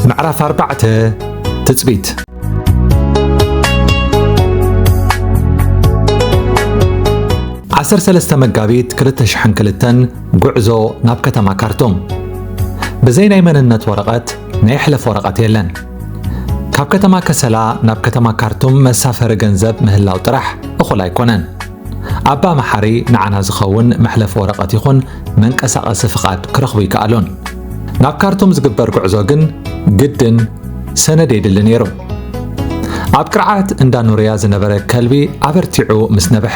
ምዕራፍ ኣርባዕተ ትጽቢት ዓሰርተ ሰለስተ መጋቢት 2002 ጉዕዞ ናብ ከተማ ካርቱም ብዘይ ናይ መንነት ወረቐት ናይ ሕለፍ ወረቐት የለን ካብ ከተማ ከሰላ ናብ ከተማ ካርቱም መሳፈሪ ገንዘብ ምህላው ጥራሕ እኹል ኣይኮነን። ኣባ መሓሪ ንዓና ዝኸውን መሕለፊ ወረቐት ይኹን መንቀሳቐሲ ፍቓድ ክረኽቡ ይከኣሉን። ናብ ካርቱም ዝግበር ጉዕዞ ግን ግድን ሰነድ የድሊ ነይሩ። ኣብ ቅርዓት እንዳ ኑርያ ዝነበረ ከልቢ ኣበርቲዑ ምስ ነበሐ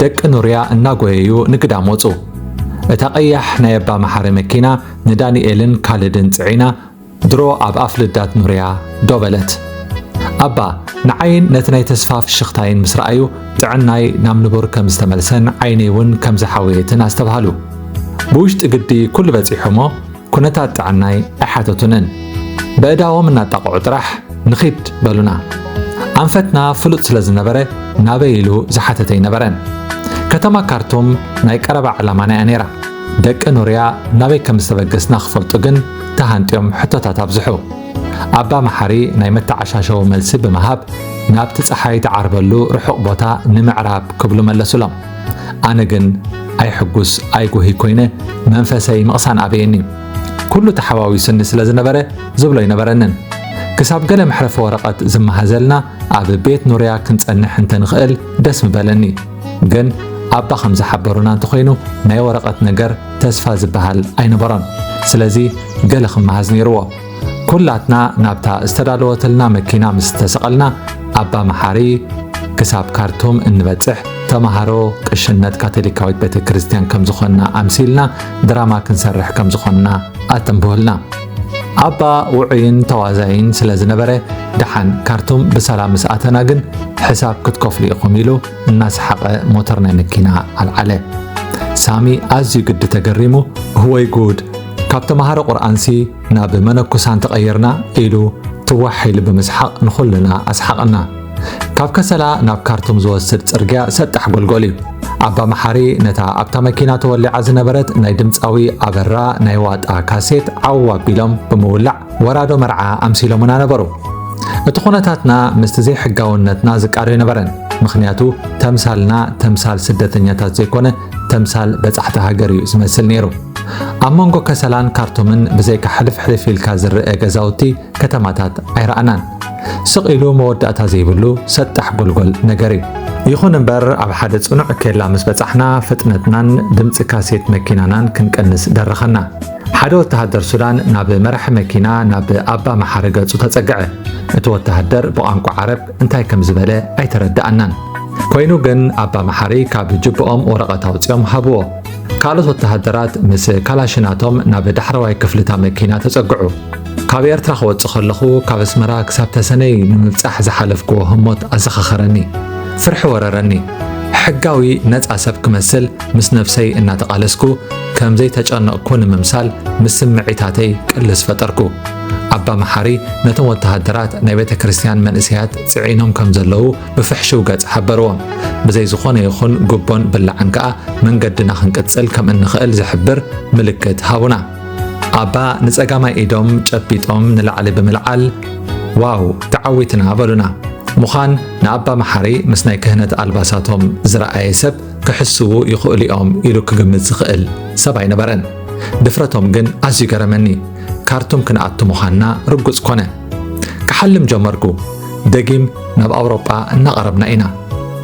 ደቂ ኑርያ እናጎየዩ ንግዳም ወፁ። እታ ቀያሕ ናይ ኣባ መሓሪ መኪና ንዳንኤልን ካልድን ፅዒና ድሮ ኣብ ኣፍ ልዳት ኑርያ ዶ በለት። ኣባ ንዓይን ነቲ ናይ ተስፋ ፍሽኽታይን ምስ ረኣዩ ጥዕናይ ናብ ንቡር ከም ዝተመልሰን ዓይነይ እውን ከም ዝሓወየትን ኣስተብሃሉ። ብውሽጢ ግዲ ኩሉ በጺሑ'ሞ ኩነታት ጥዕናይ ኣይሓተቱንን። በእዳዎም እናጣቕዑ ጥራሕ ንኺድ በሉና። ኣንፈትና ፍሉጥ ስለ ዝነበረ ናበይ ኢሉ ዝሓተተ ኣይነበረን። ከተማ ካርቱም ናይ ቀረባ ዕላማና እያ ነይራ። ደቂ ኑርያ ናበይ ከም ዝተበገስና ክፈልጡ ግን ተሃንጥዮም ሕቶታት ኣብዝሑ። ኣባ መሓሪ ናይ መተዓሻሸዊ መልሲ ብምሃብ ናብቲ ፀሓይ ትዓርበሉ ርሑቕ ቦታ ንምዕራብ ክብሉ መለሱሎም። ኣነ ግን ኣይሕጉስ ኣይጉህይ ኮይነ መንፈሰይ ምቕሳን ኣበየኒ። ኩሉ ተሓዋዊሱኒ ስለ ዝነበረ ዝብሎ ኣይነበረንን። ክሳብ ገለ መሕረፊ ወረቐት ዝመሃዘልና ኣብ ቤት ኑርያ ክንፀንሕ እንተንኽእል ደስ ምበለኒ። ግን ኣባ ከም ዝሓበሩና እንተኾይኑ ናይ ወረቐት ነገር ተስፋ ዝበሃል ኣይነበሮን። ስለዚ ገለ ክመሃዝ ነይርዎ። ኩላትና ናብታ ዝተዳለወትልና መኪና ምስ ተሰቐልና ኣባ መሓሪ ክሳብ ካርቱም እንበጽሕ ተምሃሮ ቅሽነት ካቶሊካዊት ቤተ ክርስቲያን ከም ዝኾንና ኣምሲልና ድራማ ክንሰርሕ ከም ዝኾንና ኣተንብሁልና ኣባ ውዑይን ተዋዛይን ስለ ዝነበረ ደሓን ካርቱም ብሰላም ምስ ኣተና ግን ሕሳብ ክትከፍሉ ኢኹም ኢሉ እናሰሓቐ ሞተር ናይ መኪና ኣልዓለ። ሳሚ ኣዝዩ ግዲ ተገሪሙ እወይ ጉድ ካብ ተምሃሮ ቁርኣንሲ ናብ መነኩሳን ተቐይርና ኢሉ ትዋሕ ኢሉ ብምስሓቕ ንኹልና ኣስሓቐና። ካብ ከሰላ ናብ ካርቱም ዝወስድ ጽርግያ ሰጣሕ ጎልጎል እዩ። ኣባ መሓሪ ነታ ኣብታ መኪና ተወሊዓ ዝነበረት ናይ ድምፃዊ ኣበራ ናይ ዋጣ ካሴት ዓው ኣቢሎም ብምውላዕ ወራዶ መርዓ ኣምሲሎምና ነበሩ። እቲ ኩነታትና ምስቲ ዘይሕጋውነትና ዝቃዶ ኣይነበረን። ምኽንያቱ ተምሳልና ተምሳል ስደተኛታት ዘይኮነ ተምሳል በጻሕቲ ሃገር እዩ ዝመስል ነይሩ። ኣብ መንጎ ከሰላን ካርቱምን ብዘይካ ሕልፍሕልፍ ኢልካ ዝረአ ገዛውቲ ከተማታት ኣይረኣናን። ስቕ ኢሉ መወዳእታ ዘይብሉ ሰጣሕ ጎልጎል ነገር እዩ። ይኹን እምበር ኣብ ሓደ ጽኑዕ ኬላ ምስ በጻሕና ፍጥነትናን ድምፂ ካሴት መኪናናን ክንቀንስ ደረኸና። ሓደ ወተሃደር ሱዳን ናብ መራሒ መኪና ናብ ኣባ መሓሪ ገጹ ተጸግዐ። እቲ ወተሃደር ብቋንቋ ዓረብ እንታይ ከም ዝበለ ኣይተረድኣናን። ኮይኑ ግን ኣባ መሓሪ ካብ ጅብኦም ወረቐት ኣውጺኦም ሃብዎ። ካልኦት ወተሃደራት ምስ ካላሽናቶም ናብ ዳሕረዋይ ክፍልታ መኪና ተጸግዑ። ካብ ኤርትራ ክወጽእ ከለኹ ካብ ኣስመራ ክሳብ ተሰነይ ንምብጻሕ ዝሓለፍክዎ ህሞት ኣዘኻኸረኒ። ፍርሒ ወረረኒ። ሕጋዊ ነጻ ሰብ ክመስል ምስ ነፍሰይ እናተቓለስኩ ከም ዘይተጨነቕኩ ንምምሳል ምስ ስምዒታተይ ቅልስ ፈጠርኩ። ኣባ መሓሪ ነቶም ወተሃደራት ናይ ቤተ ክርስቲያን መንእሰያት ጽዒኖም ከም ዘለዉ ብፍሕሽው ገጽ ሓበርዎም። ብዘይ ዝኾነ ይኹን ጉቦን ብላዕን ከኣ መንገድና ክንቅጽል ከም እንኽእል ዝሕብር ምልክት ሃቡና። ኣባ ንጸጋማይ ኢዶም ጨቢጦም ንላዕሊ ብምልዓል ዋው ተዓዊትና በሉና። ምዃን ንኣባ መሓሪ ምስ ናይ ክህነት ኣልባሳቶም ዝረኣየ ሰብ ክሕስዉ ይኽእሉ እዮም ኢሉ ክግምት ዝኽእል ሰብ ኣይነበረን። ድፍረቶም ግን ኣዝዩ ገረመኒ። ካርቱም ክንኣቱ ምዃንና ርጉጽ ኮነ። ክሓልም ጀመርኩ። ደጊም ናብ ኣውሮጳ እናቐረብና ኢና።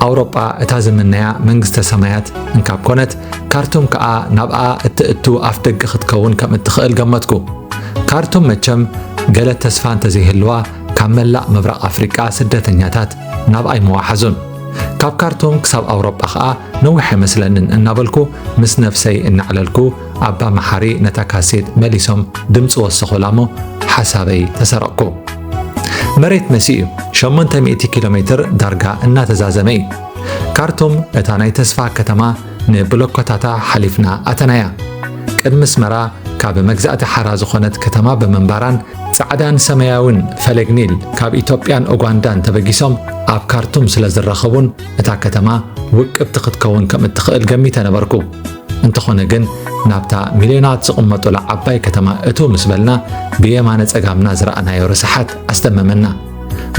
ኣውሮጳ እታ ዝምነያ መንግስተ ሰማያት እንካብ ኮነት ካርቱም ከኣ ናብኣ እትእቱ ኣፍ ደገ ክትከውን ከም እትኽእል ገመትኩ። ካርቱም መቸም ገለ ተስፋ እንተዘይህልዋ ካብ መላእ ምብራቕ ኣፍሪቃ ስደተኛታት ናብ ኣይ ምወሓዙን። ካብ ካርቱም ክሳብ ኣውሮጳ ኸኣ ነዊሕ ኣይመስለንን እናበልኩ ምስ ነፍሰይ እናዕለልኩ ኣባ መሓሪ ነታ ካሴት መሊሶም ድምፂ ወሰኹላሞ ሓሳበይ ተሰረቕኩ። መሬት መሲ እዩ። ሸሞንተ ሚእቲ ኪሎ ሜትር ዳርጋ እናተዛዘመ እዩ። ካርቱም እታ ናይ ተስፋ ከተማ ንብሎኮታታ ሓሊፍና ኣተናያ። ቅድሚ ኣስመራ ካብ መግዛእቲ ሓራ ዝኾነት ከተማ ብምንባራን ጻዕዳን ሰመያዊን ፈለግ ኒል ካብ ኢትዮጵያን ኡጓንዳን ተበጊሶም ኣብ ካርቱም ስለ ዝራኸቡን እታ ከተማ ውቅብቲ ክትከውን ከም እትኽእል ገሚተ ነበርኩ። እንተኾነ ግን ናብታ ሚልዮናት ዝቕመጡላ ዓባይ ከተማ እትው ምስ በልና ብየማነ ጸጋምና ዝረኣናዮ ርስሓት ኣስደመመና።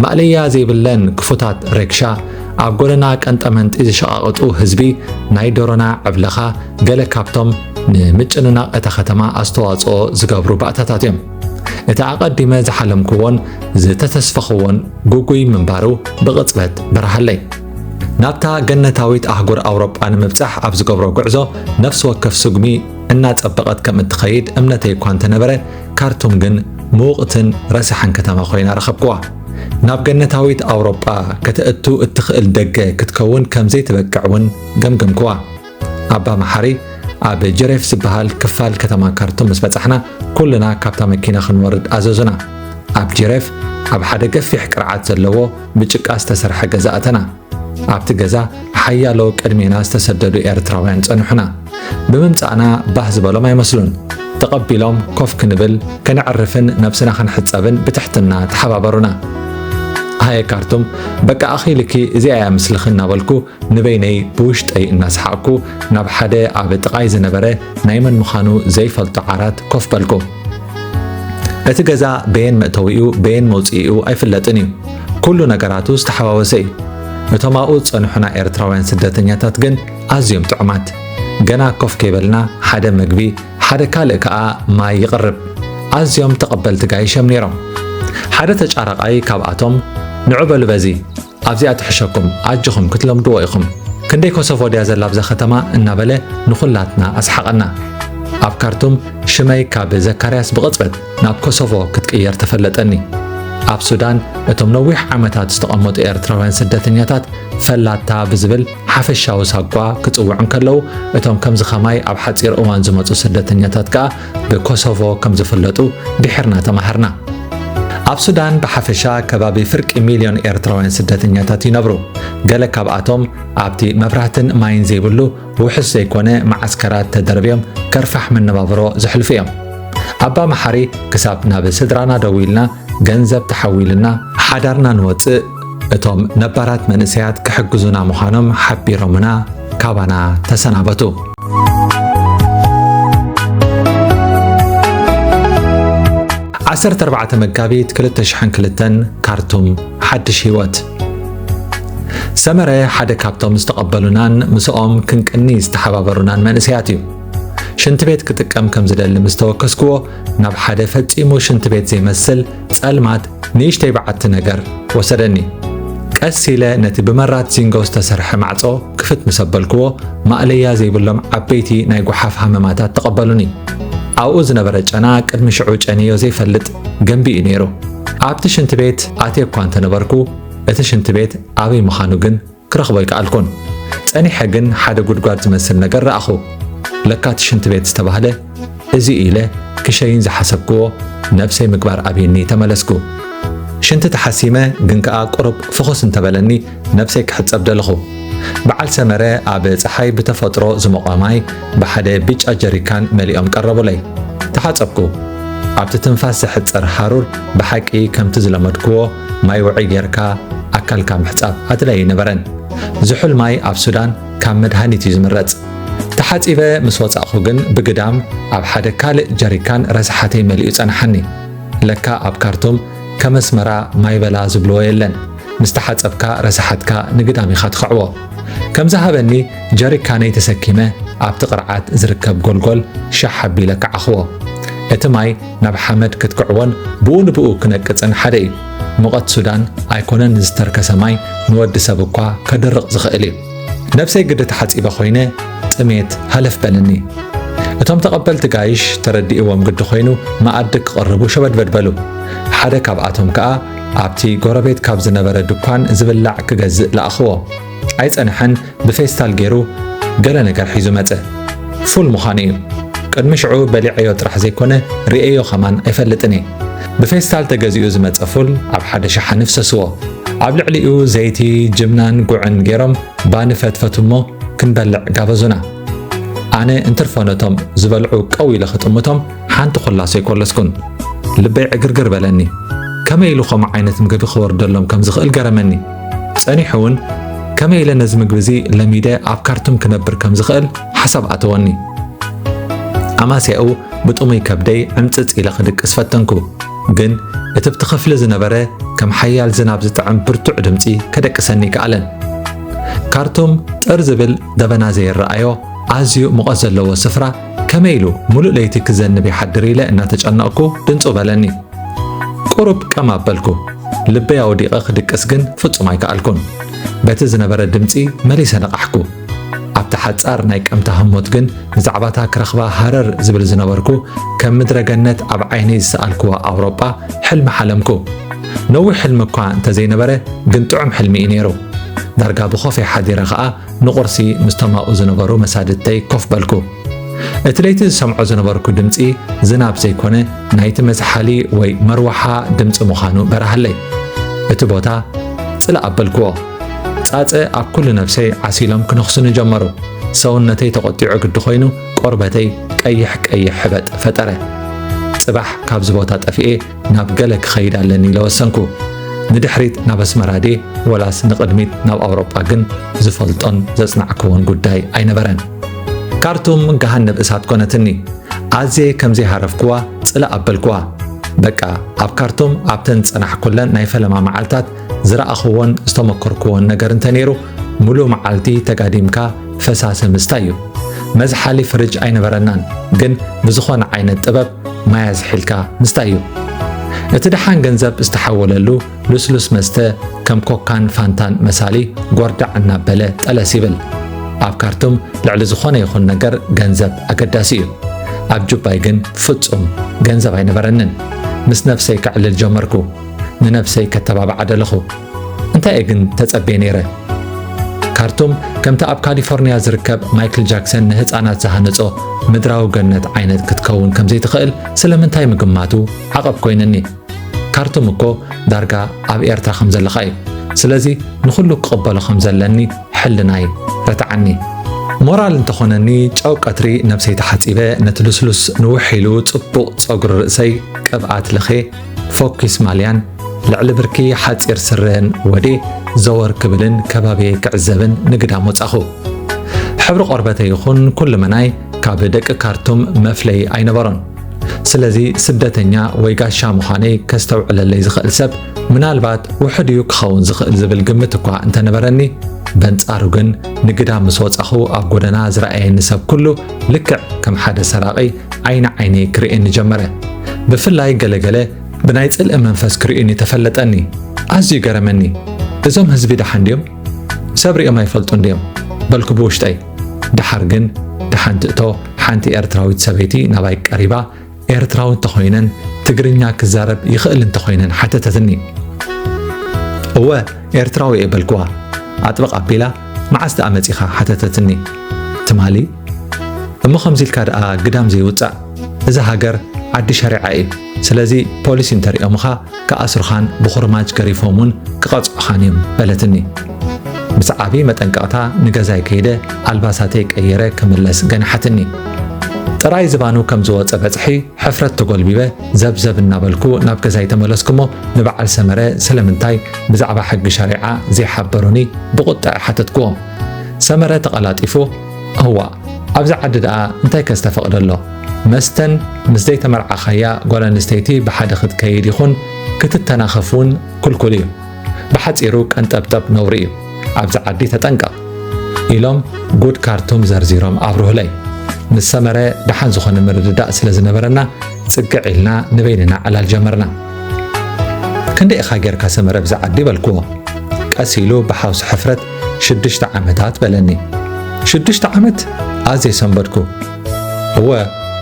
ማእለያ ዘይብለን ክፉታት ረግሻ ኣብ ጎደና ቀንጠመንጢ ዝሸቓቕጡ ህዝቢ ናይ ዶሮና ዕብለኻ ገለ ካብቶም ንምጭንናቕ እታ ከተማ ኣስተዋጽኦ ዝገብሩ ባእታታት እዮም። እቲ ኣቐዲመ ዝሓለምክዎን ዝተተስፈኽዎን ጉጉይ ምንባሩ ብቕጽበት በረሃለይ። ናብታ ገነታዊት ኣህጉር ኣውሮጳ ንምብጻሕ ኣብ ዝገብሮ ጉዕዞ ነፍሲ ወከፍ ስጉሚ እናጸበቐት ከም እትኸይድ እምነተይ እኳ እንተነበረ ካርቱም ግን ምውቕትን ረሳሕን ከተማ ኮይና ረኸብክዋ። ናብ ገነታዊት ኣውሮጳ ከተእቱ እትኽእል ደገ ክትከውን ከም ዘይትበቅዕ እውን ገምገምክዋ። ኣባ መሓሪ ኣብ ጀሬፍ ዝበሃል ክፋል ከተማ ካርቱም ምስ በጻሕና ኩልና ካብታ መኪና ክንወርድ ኣዘዙና። ኣብ ጀሬፍ ኣብ ሓደ ገፊሕ ቅርዓት ዘለዎ ብጭቃ ዝተሰርሐ ገዛ ኣተና። ኣብቲ ገዛ ሓያሎ ቅድሜና ዝተሰደዱ ኤርትራውያን ጸንሑና። ብምምጻእና ባህ ዝበሎም ኣይመስሉን። ተቐቢሎም ኮፍ ክንብል ከነዕርፍን ነብስና ክንሕጸብን ብትሕትና ተሓባበሩና። ሃየ ካርቱም በቃ ኣኺልኪ እዚኣ እያ ምስልኺ እናበልኩ ንበይነይ ብውሽጠይ እናሰሓቕኩ ናብ ሓደ ኣብ ጥቓይ ዝነበረ ናይ መን ምዃኑ ዘይፈልጦ ዓራት ኮፍ በልኩ እቲ ገዛ በየን መእተዊኡ በየን መውፅኢኡ ኣይፍለጥን እዩ ኩሉ ነገራቱ ዝተሓዋወሰ እዩ። እቶም ኣብኡ ዝጸንሑና ኤርትራውያን ስደተኛታት ግን ኣዝዮም ጥዑማት። ገና ኮፍ ከይበልና ሓደ መግቢ ሓደ ካልእ ከኣ ማይ ይቕርብ። ኣዝዮም ተቐበልቲ ጋይሽ እዮም ነይሮም። ሓደ ተጫራቓይ ካብኣቶም ንዑ በሉ በዚ ኣብዚኣ ትሕሸኩም ኣጆኹም ክትለምድዎ ኢኹም ክንደይ ኮሶቮ ድያ ዘላ ኣብዛ ከተማ እናበለ ንኹላትና ኣስሓቐና። ኣብ ካርቱም ሽመይ ካብ ዘካርያስ ብቕጽበት ናብ ኮሶቮ ክትቅየር ተፈለጠኒ። ኣብ ሱዳን እቶም ነዊሕ ዓመታት ዝተቐመጡ ኤርትራውያን ስደተኛታት ፈላታ ብዝብል ሓፈሻዊ ሳጓ ክጽውዑ እንከለዉ እቶም ከምዚ ከማይ ኣብ ሓጺር እዋን ዝመጹ ስደተኛታት ከኣ ብኮሶቮ ከም ዝፍለጡ ድሒርና ተማሃርና። ኣብ ሱዳን ብሓፈሻ ከባቢ ፍርቂ ሚልዮን ኤርትራውያን ስደተኛታት ይነብሩ። ገለ ካብኣቶም ኣብቲ መብራህትን ማይን ዘይብሉ ብውሑስ ዘይኮነ መዓስከራት ተደርብዮም ከርፋሕ መነባብሮ ዘሕልፉ እዮም። ኣባ መሓሪ ክሳብ ናብ ስድራና ደዊልና ገንዘብ ተሓዊልና፣ ሓዳርና ንወጽእ እቶም ነባራት መንእሰያት ክሕግዙና ምዃኖም ሓቢሮምና ካባና ተሰናበቱ። ዓሰርተ ኣርባዕተ መጋቢት ክልተ ሽሕን ክልተን ካርቱም ሓድሽ ህይወት ሰመረ ሓደ ካብቶም ዝተቐበሉናን ምስኦም ክንቅኒ ዝተሓባበሩናን መንእሰያት እዩ። ሽንቲ ቤት ክጥቀም ከም ዝደሊ ምስ ተወከስክዎ ናብ ሓደ ፈጺሙ ሽንቲ ቤት ዘይመስል ጸልማት ንእሽተይ በዓቲ ነገር ወሰደኒ። ቀስ ኢለ ነቲ ብመራት ዚንጎ ዝተሰርሐ ማዕጾ ክፍት ምስ ኣበልክዎ ማእለያ ዘይብሎም ዓበይቲ ናይ ጓሓፍ ሃመማታት ተቐበሉኒ። ኣብኡ ዝነበረ ጨና ቅድሚ ሽዑ ጨንዮ ዘይፈልጥ ገንቢ እዩ ነይሩ። ኣብቲ ሽንቲ ቤት ኣትየ እኳ እንተነበርኩ እቲ ሽንቲ ቤት ኣበይ ምዃኑ ግን ክረኽቦ ኣይከኣልኩን። ጸኒሐ ግን ሓደ ጉድጓድ ዝመስል ነገር ረኣኹ። ለካ እቲ ሽንቲ ቤት ዝተባህለ እዚ ኢለ ክሸይን ዝሓሰብክዎ ነብሰይ ምግባር ኣብየኒ ተመለስኩ። ሽንቲ ተሓሲመ ግን ከኣ ቁሩብ ፍኹስ እንተበለኒ ነብሰይ ክሕጸብ ደለኹ። በዓል ሰመረ ኣብ ጸሓይ ብተፈጥሮ ዝሞቐ ማይ ብሓደ ብጫ ጀሪካን መሊኦም ቀረቡለይ። ተሓጸብኩ። ኣብቲ ትንፋስ ዘሕጽር ሃሩር ብሓቂ ከምቲ ዝለመድክዎ ማይ ውዑይ ጌርካ ኣካልካ ምሕጻብ ኣድላይ ኣይነበረን። ዝሑል ማይ ኣብ ሱዳን ካብ መድሃኒት እዩ ዝምረጽ። ተሓጺበ ምስ ወጻእኩ ግን ብግዳም ኣብ ሓደ ካልእ ጀሪካን ረስሓተይ መሊኡ ጸንሓኒ። ለካ ኣብ ካርቱም ከም ኣስመራ ማይበላ ዝብልዎ የለን። ምስ ተሓጸብካ ረሳሓትካ ንግዳም ኢኻ ትኽዕቦ። ከም ዝሃበኒ ጀሪካነይ ተሰኪመ ኣብቲ ቅርዓት ዝርከብ ጎልጎል ሻሕ ኣቢለ ከዓኽዎ። እቲ ማይ ናብ ሓመድ ክትክዕዎን ብኡ ንብኡ ክነቅጽን ሓደ እዩ። ሙቐት ሱዳን ኣይኮነን ዝተርከሰ ማይ ንወዲ ሰብ እኳ ከድርቕ ዝኽእል እዩ። ነብሰይ ግዲ ተሓጺበ ኮይነ ጥሜት ሃለፍ በለኒ። እቶም ተቐበልቲ ጋይሽ ተረዲእዎም ግዲ ኮይኑ መኣዲ ክቕርቡ ሸበድበድ በሉ። ሓደ ካብኣቶም ከኣ ኣብቲ ጎረቤት ካብ ዝነበረ ድኳን ዝብላዕ ክገዝእ ለኣኽዎ። ኣይጸንሐን ብፌስታል ገይሩ ገለ ነገር ሒዙ መጸ። ፉል ምዃኑ እዩ። ቅድሚ ሽዑ በሊዐዮ ጥራሕ ዘይኮነ ርእየዮ ከማን ኣይፈልጥን እየ። ብፌስታል ተገዚኡ ዝመጸ ፉል ኣብ ሓደ ሸሓኒ ፍሰስዎ። ኣብ ልዕሊኡ ዘይቲ፣ ጅብናን ጉዕን ገይሮም ባኒ ፈትፈቱ እሞ ክንበልዕ ጋበዙና። ኣነ እንትርፎ ነቶም ዝበልዑ ቀው ኢለ ክጥምቶም ሓንቲ ኮላ ሰይኮለስኩን ልበይ ዕግርግር በለኒ ከመይ ኢሉ ከምኡ ዓይነት ምግቢ ክወርደሎም ከም ዝኽእል ገረመኒ ጸኒሑ እውን ከመይ ኢለ ነዚ ምግቢ እዚ ለሚደ ኣብ ካርቱም ክነብር ከም ዝኽእል ሓሳብ ኣተወኒ ኣማስያኡ ብጥሙይ ከብደይ ዕምፅፅ ኢለ ክድቅስ ፈተንኩ ግን እቲ ብቲ ክፍሊ ዝነበረ ከም ሓያል ዝናብ ዝጥዕም ብርቱዕ ድምፂ ከደቅሰኒ ይከኣለን ካርቱም ጥር ዝብል ደበና ዘይረኣዮ ኣዝዩ ሙቐት ዘለዎ ስፍራ ከመይ ኢሉ ሙሉእ ለይቲ ክዘንብ ይሓድር ኢለ እናተጨነቕኩ ድንጹ በለኒ። ቁሩብ ቀም ኣበልኩ። ልበይ ኣወዲቐ ክድቅስ ግን ፍጹም ኣይከኣልኩን። በቲ ዝነበረ ድምጺ መሊሰ ነቓሕኩ። ኣብቲ ሓጻር ናይ ቀምታ ህሞት ግን ብዛዕባታ ክረኽባ ሃረር ዝብል ዝነበርኩ ከም ምድረ ገነት ኣብ ዓይነይ ዝሰኣልክዋ ኣውሮጳ ሕልሚ ሓለምኩ። ነዊሕ ሕልሚ እኳ እንተዘይነበረ ግን ጥዑም ሕልሚ እዩ ነይሩ። ዳርጋ ብኾፈይ ሓዲረ ኸኣ ንቝርሲ ምስ ተማኡ ዝነበሩ መሳድድተይ ኮፍ በልኩ። እቲ ለይቲ ዝሰምዖ ዝነበርኩ ድምፂ ዝናብ ዘይኮነ ናይቲ መዝሓሊ ወይ መርወሓ ድምፂ ምዃኑ በራሃለይ። እቲ ቦታ ጽላእ ኣበልክዎ። ጻጸ ኣብ ኩሉ ነፍሰይ ዓሲሎም ክነኽሱኒ ጀመሩ። ሰውነተይ ተቖጢዑ ግዲ ኮይኑ ቆርበተይ ቀይሕ ቀይሕ ሕበጥ ፈጠረ። ጽባሕ ካብዚ ቦታ ጠፊኤ ናብ ገለ ክኸይድ ኣለኒ ኢለ ወሰንኩ። ንድሕሪት ናብ ኣስመራ ድየ ወላስ ንቕድሚት ናብ ኣውሮጳ ግን ዝፈልጦን ዘጽናዕክዎን ጉዳይ ኣይነበረን። ካርቱም ገሃነብ እሳት ኮነትኒ። ኣዝየ ከም ዘይሃረፍክዋ ጽላእ ኣበልክዋ። በቃ ኣብ ካርቱም ኣብተን ዝጸናሕኩለን ናይ ፈለማ መዓልታት ዝረኣኽዎን ዝተመኮርክዎን ነገር እንተነይሩ ሙሉእ መዓልቲ ተጋዲምካ ፈሳሲ ምስታይ እዩ። መዝሓሊ ፍርጅ ኣይነበረናን፣ ግን ብዝኾነ ዓይነት ጥበብ ማይ ኣዝሒልካ ምስታይ እዩ። እቲ ደሓን ገንዘብ ዝተሓወለሉ ልስሉስ መስተ ከም ኮካን ፋንታን መሳሊ ጎርዳዕ እናበለ ጠለስ ይብል። ኣብ ካርቱም ልዕሊ ዝኾነ ይኹን ነገር ገንዘብ ኣገዳሲ እዩ። ኣብ ጁባይ ግን ፍጹም ገንዘብ ኣይነበረንን። ምስ ነፍሰይ ከዕልል ጀመርኩ። ንነብሰይ ከተባብዓ ደለኹ። እንታይ እየ ግን ተጸቤ ነይረ? ካርቱም ከምቲ ኣብ ካሊፎርንያ ዝርከብ ማይክል ጃክሰን ንህፃናት ዝሃነጾ ምድራዊ ገነት ዓይነት ክትከውን ከም ዘይትኽእል ስለምንታይ ምግማቱ ዓቐብ ኮይንኒ። ካርቱም እኮ ዳርጋ ኣብ ኤርትራ ከም ዘለኻ እዩ። ስለዚ ንኹሉ ክቕበሎ ከም ዘለኒ ሕልናይ ረትዓኒ። ሞራል እንተኾነኒ ጨው ቀትሪ ነብሰይ ተሓጺበ ነቲ ልስሉስ ንውሕ ኢሉ ጽቡቕ ጸጉሪ ርእሰይ ቅብኣት ለኼ ፎኪስ ማልያን ልዕሊ ብርኪ ሓጺር ስረን ወዴ ዘወር ክብልን ከባቢየይ ክዕዘብን ንግዳም ወጻኹ። ሕብሪ ቆርበተ ይኹን ኩልመናይ ካብ ደቂ ካርቱም መፍለይ ኣይነበሮን። ስለዚ ስደተኛ ወይ ጋሻ ምዃነይ ከስተውዕለለይ ዝኽእል ሰብ ምናልባት ውሑድ እዩ ክኸውን ዝኽእል ዝብል ግምት እኳ እንተነበረኒ በንጻሩ ግን ንግዳ ምስ ወጻኹ ኣብ ጎደና ዝረኣየኒ ሰብ ኩሉ ልክዕ ከም ሓደ ሰራቒ ዓይኒ ዓይነይ ክርእየኒ ጀመረ። ብፍላይ ገለ ገለ ብናይ ጽልኢ መንፈስ ክርእዩኒ ተፈለጠኒ። ኣዝዩ ገረመኒ። እዞም ህዝቢ ደሓን ድዮም? ሰብ ሪኦም ኣይፈልጡን ድዮም? በልኩ ብውሽጠይ። ደሓር ግን ደሓን ትእቶ ሓንቲ ኤርትራዊት ሰበይቲ ናባይ ቀሪባ ኤርትራዊ እንተኾይነን ትግርኛ ክዛረብ ይኽእል እንተኾይነን ሓተተትኒ። እወ ኤርትራዊ እየ በልክዋ። ኣጥበቕ ኣቢላ መዓስ ደኣ መጺኻ ሓተተትኒ። ትማሊ እሞ ከምዚ ኢልካ ደኣ ግዳም ዘይውጻእ እዛ ሃገር ዓዲ ሸሪዓ እዩ ስለዚ ፖሊስ እንተሪኦምኻ ክኣስሩኻን ብኹርማጅ ገሪፎም እውን ክቐጽዑኻን እዮም በለትኒ ምስ ዓብዪ መጠንቀቕታ ንገዛይ ከይደ ኣልባሳተይ ቀይረ ክምለስ ገንሓትኒ ጥራይ ዝባኑ ከም ዝወፀ በፅሒ ሕፍረት ተጎልቢበ ዘብዘብ እናበልኩ ናብ ገዛይ ተመለስኩሞ ንበዓል ሰመረ ስለምንታይ ብዛዕባ ሕጊ ሸሪዓ ዘይሓበሩኒ ብቑጥዐ ሓተትክዎ ሰመረ ተቐላጢፉ እዋእ ኣብዚ ዓዲ ደኣ እንታይ ከ ዝተፈቕደ ኣሎ? መስተን ምስ ዘይተመርዓኻያ ጓል ኣንስተይቲ ብሓደ ክትከይድ ይኹን ክትተናኸፍ እውን ክልኩል እዩ። ብሓጺሩ ቀንጠብጠብ ነውሪ እዩ። ኣብዚ ዓዲ ተጠንቀቕ ኢሎም ጉድ ካርቱም ዘርዚሮም ኣብርሁለይ። ምስ ሰመረ ደሓን ዝኾነ ምርድዳእ ስለ ዝነበረና ጽግዕ ኢልና ንበይንና ዕላል ጀመርና። ክንደይ ኢኻ ጌርካ ሰመረ ብዛ ዓዲ በልክዎ። ቀስ ኢሉ ብሓውሲ ሕፍረት ሽዱሽተ ዓመታት በለኒ። ሽዱሽተ ዓመት ኣዝየ ሰንበድኩ። እወ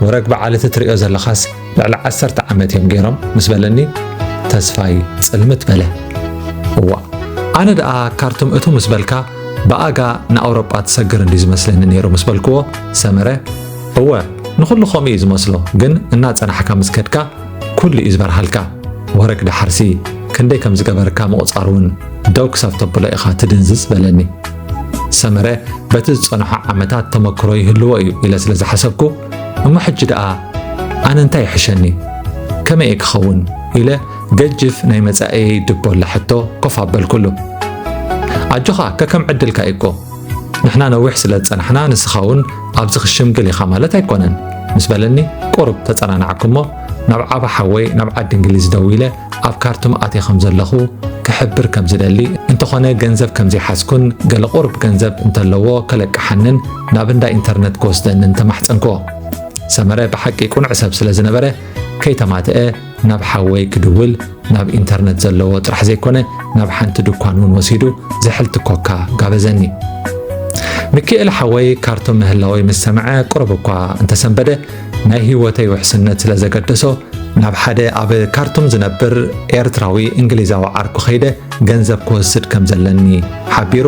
ወረግ በዓል እቲ ትርእዮ ዘለኻስ ልዕሊ ዓሰርተ ዓመት እዮም ገይሮም ምስ በለኒ ተስፋይ ጽልምት በለ። እዋ ኣነ ደኣ ካርቱም እቱ ምስ በልካ ብኣጋ ንኣውሮጳ ትሰግር እንዲ ዝመስለኒ ነይሩ ምስ በልክዎ ሰመረ እወ ንኹሉ ከምኡ እዩ ዝመስሎ ግን እናጸናሕካ ምስ ከድካ ኩሉ እዩ ዝበርሃልካ ወረግ ዳሓርሲ ክንደይ ከም ዝገበርካ ምቑጻር እውን ደው ክሳብ ተብሎ ኢኻ ትድንዝዝ በለኒ ሰመረ በቲ ዝጸንሖ ዓመታት ተመክሮ ይህልዎ እዩ ኢለ ስለ ዝሓሰብኩ እሞ ሕጂ ደኣ ኣነ እንታይ ይሕሸኒ ከመይ እየ ክኸውን ኢለ ገጅፍ ናይ መጻኤየይ ድቦላ ሕቶ ኮፍ ኣበልኩሉ ኣጆኻ ከከም ዕድልካ እዩ እኮ ንሕና ነዊሕ ስለ ዝጸናሕና ንስኻ እውን ኣብዚ ክሽምግል ኢኻ ማለት ኣይኮነን ምስ በለኒ ቁሩብ ተጸናናዕኩሞ ናብ ዓባ ሓወይ ናብ ዓዲ እንግሊዝ ደዊለ ኣብ ካርቱም ኣትየ ከም ዘለኹ ክሕብር ከም ዝደሊ እንተኾነ ገንዘብ ከም ዘይሓዝኩን ገለ ቁርብ ገንዘብ እንተለዎ ከለቅሓንን ናብ እንዳ ኢንተርነት ክወስደንን ተማሕፀንክዎ ሰመረ ብሓቂ ቁኑዕ ሰብ ስለ ዝነበረ ከይተማትአ ናብ ሓወይ ክድውል ናብ ኢንተርነት ዘለዎ ጥራሕ ዘይኮነ ናብ ሓንቲ ድኳን እውን ወሲዱ ዝሕልቲ ኮካ ጋበዘኒ። ሚኪኤል ሓወይ ካርቶ ምህላወይ ምስ ሰምዐ ቁሩብ እኳ እንተሰንበደ ናይ ህይወተይ ውሕስነት ስለ ዘገደሶ ናብ ሓደ ኣብ ካርቱም ዝነብር ኤርትራዊ እንግሊዛዊ ዓርኩ ከይደ ገንዘብ ክወስድ ከም ዘለኒ ሓቢሩ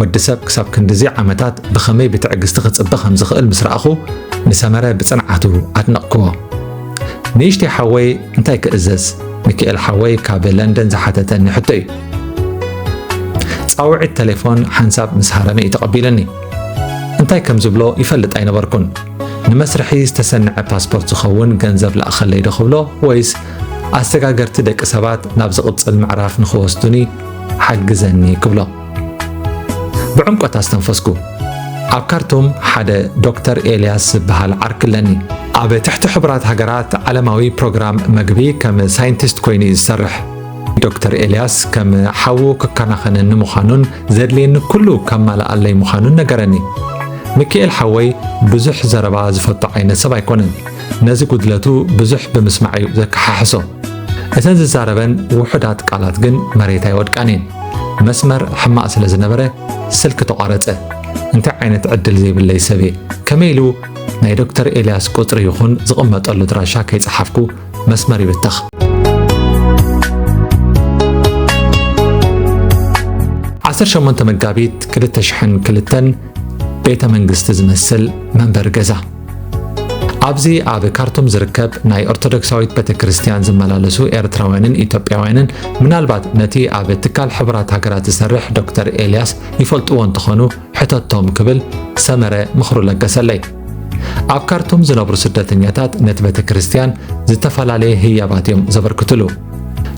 ወዲ ሰብ ክሳብ ክንድዚ ዓመታት ብኸመይ ብትዕግስቲ ክጽበ ከም ዝኽእል ምስ ረኣኹ ንሰመረ ብጽንዓቱ ኣድነቕክዎ። ንእሽተይ ሓወይ እንታይ ክእዘዝ? ሚካኤል ሓወይ ካብ ለንደን ዝሓተተኒ ሕቶ እዩ። ጻውዒት ተሌፎን ሓንሳብ ምስ ሃረመ እዩ ተቐቢለኒ። እንታይ ከም ዝብሎ ይፈልጥ ኣይነበርኩን። ንመስርሒ ዝተሰንዐ ፓስፖርት ዝኸውን ገንዘብ ለኣኸለይ ዶ ክብሎ ወይስ ኣሰጋገርቲ ደቂ ሰባት ናብ ዝቕጽል ምዕራፍ ንኽወስዱኒ ሓግዘኒ ክብሎ ብዕምቆት ኣስተንፈስኩ። ኣብ ካርቱም ሓደ ዶክተር ኤልያስ ዝበሃል ዓርኪ ኣለኒ። ኣብ ትሕቲ ሕቡራት ሃገራት ዓለማዊ ፕሮግራም መግቢ ከም ሳይንቲስት ኮይኑ እዩ ዝሰርሕ። ዶክተር ኤልያስ ከም ሓዉ ክከናኸነኒ ምዃኑን ዘድልየኒ ኩሉ ከማልኣለይ ምዃኑን ነገረኒ። ሚካኤል ሓወይ ብዙሕ ዘረባ ዝፈቱ ዓይነት ሰብ ኣይኮነን። ነዚ ጉድለቱ ብዙሕ ብምስማዕ እዩ ዘከሓሕሶ። እተን ዝዛረበን ውሑዳት ቃላት ግን መሬት ኣይወድቃን እየን። መስመር ሕማቕ ስለ ዝነበረ ስልኪ ተቋረጸ። እንታይ ዓይነት ዕድል ዘይብለይ ሰብ እየ ከመይ ኢሉ ናይ ዶክተር ኤልያስ ቁፅሪ ይኹን ዝቕመጠሉ ድራሻ ከይፀሓፍኩ መስመር ይብተኽ ዓሰርተ ሸሞንተ መጋቢት ክልተ ሽሕን ክልተን ቤተ መንግስቲ ዝመስል መንበሪ ገዛ ኣብዚ ኣብ ካርቱም ዝርከብ ናይ ኦርቶዶክሳዊት ቤተ ክርስቲያን ዝመላለሱ ኤርትራውያንን ኢትዮጵያውያንን ምናልባት ነቲ ኣብ ትካል ሕቡራት ሃገራት ዝሰርሕ ዶክተር ኤልያስ ይፈልጥዎ እንተኾኑ ሕተቶም ክብል ሰመረ ምኽሩ ለገሰለይ። ኣብ ካርቱም ዝነብሩ ስደተኛታት ነቲ ቤተ ክርስቲያን ዝተፈላለየ ህያባት እዮም ዘበርክትሉ።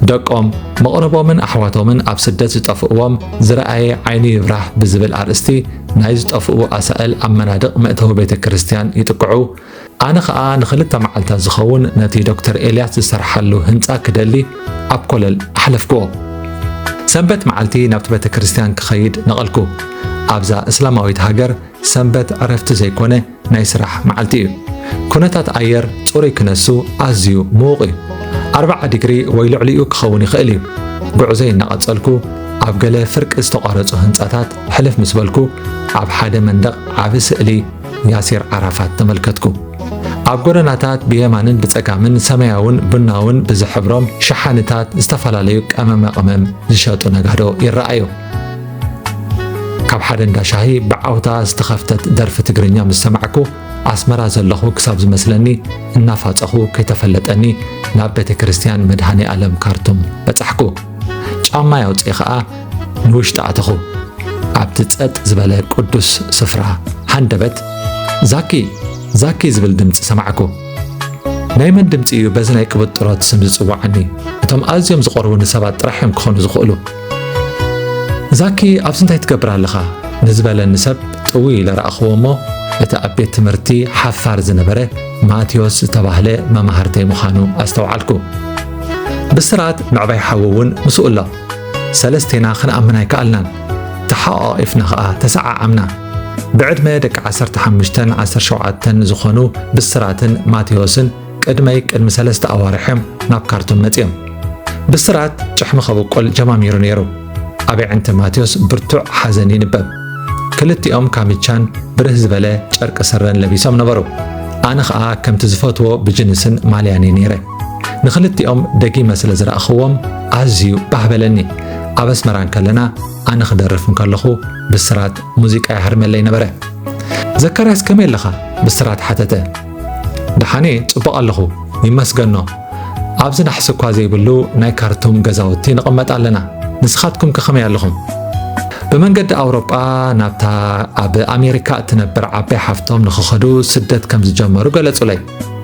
ደቆም መቕረቦምን ኣሕዋቶምን ኣብ ስደት ዝጠፍእዎም ዝረኣየ ዓይኑ ይብራህ ብዝብል ኣርእስቲ ናይ ዝጠፍኡ ኣሳእል ኣብ መናድቕ መእተዊ ቤተ ክርስቲያን ይጥቅዑ። ኣነ ኸኣ ንኽልተ መዓልታት ዝኸውን ነቲ ዶክተር ኤልያስ ዝሰርሓሉ ህንጻ ክደሊ ኣብ ኮለል ኣሕለፍክዎ። ሰንበት መዓልቲ ናብቲ ቤተ ክርስቲያን ክኸይድ ነቐልኩ። ኣብዛ እስላማዊት ሃገር ሰንበት ዕረፍቲ ዘይኮነ ናይ ስራሕ መዓልቲ እዩ። ኩነታት ኣየር ጽሩይ ክነሱ ኣዝዩ ምዉቕ እዩ። ኣርብዓ ዲግሪ ወይ ልዕሊኡ ክኸውን ይኽእል እዩ። ጉዕዞይ እናቐጸልኩ ኣብ ገለ ፍርቂ ዝተቋረጹ ህንጻታት ሕልፍ ምስ በልኩ ኣብ ሓደ መንደቕ ዓቢ ስእሊ ያሲር ዓራፋት ተመልከትኩ። ኣብ ጎደናታት ብየማንን ብጸጋምን ሰማያውን ቡናውን ብዝሕብሮም ሸሓኒታት ዝተፈላለዩ ቀመመ ቐመም ዝሸጡ ነጋዶ ይረኣዩ። ካብ ሓደ እንዳ ሻሂ ብዓውታ ዝተኸፍተት ደርፊ ትግርኛ ምስ ሰማዕኩ ኣስመራ ዘለኹ ክሳብ ዝመስለኒ እናፋፀኹ ከይተፈለጠኒ ናብ ቤተ ክርስቲያን መድሃኔ ኣለም ካርቱም በጻሕኩ ጫማ ያውፅኢ ኸኣ ንውሽጢ ኣተኹ ኣብቲ ጸጥ ዝበለ ቅዱስ ስፍራ ሃንደበት ዛኪ ዛኪ ዝብል ድምፂ ሰማዕኩ ናይ መን ድምፂ እዩ በዚ ናይ ቅብጥሮት ስም ዝፅዋዓኒ እቶም ኣዝዮም ዝቐርቡኒ ሰባት ጥራሕ እዮም ክኾኑ ዝኽእሉ ዛኪ ኣብዚ እንታይ ትገብር ኣለኻ ንዝበለኒ ሰብ ጥውይ ኢለ ረኣኽዎ እሞ እቲ ኣብ ቤት ትምህርቲ ሓፋር ዝነበረ ማቴዎስ ዝተባህለ መማህርተይ ምዃኑ ኣስተውዓልኩ ብስራት ምዕባይ ሓዊ እውን ምስኡ ኣሎ ሰለስቴና ክንኣምን ኣይከኣልናን ተሓቛቒፍና ኸኣ ተሰዓዓምና ብዕድመ ደቂ 15 17 ዝኾኑ ብስራትን ማቴዎስን ቅድመይ ቅድሚ ሰለስተ ኣዋርሕ እዮም ናብ ካርቱም መጺኦም። ብስራት ጭሕሚ ከብቁል ጀማሚሩ ነይሩ። ኣብ ኣዕንቲ ማቴዎስ ብርቱዕ ሓዘን ይንበብ። ክልቲኦም ካሚቻን ብርህ ዝበለ ጨርቂ ስረን ለቢሶም ነበሩ። ኣነ ኸኣ ከምቲ ዝፈትዎ ብጅንስን ማልያን እየ ነይረ። ንኽልቲኦም ደጊመ ስለ ዝረኣኽዎም ኣዝዩ ባህ በለኒ። ኣብ ኣስመራ እንከለና ኣነ ክደርፍ እንከለኹ ብስራት ሙዚቃ ይሃርመለይ ነበረ። ዘካርያስ ከመይ ኣለኻ? ብስራት ሓተተ። ደሓን'የ ጽቡቕ ኣለኹ ይመስገኖ ኣብዚ ናሕሲ እኳ ዘይብሉ ናይ ካርቱም ገዛውቲ ንቕመጥ ኣለና ንስኻትኩም ከ ከመይ ኣለኹም ብመንገዲ ኣውሮጳ ናብታ ኣብ ኣሜሪካ እትነብር ዓባይ ሓፍቶም ንኽኸዱ ስደት ከም ዝጀመሩ ገለጹለይ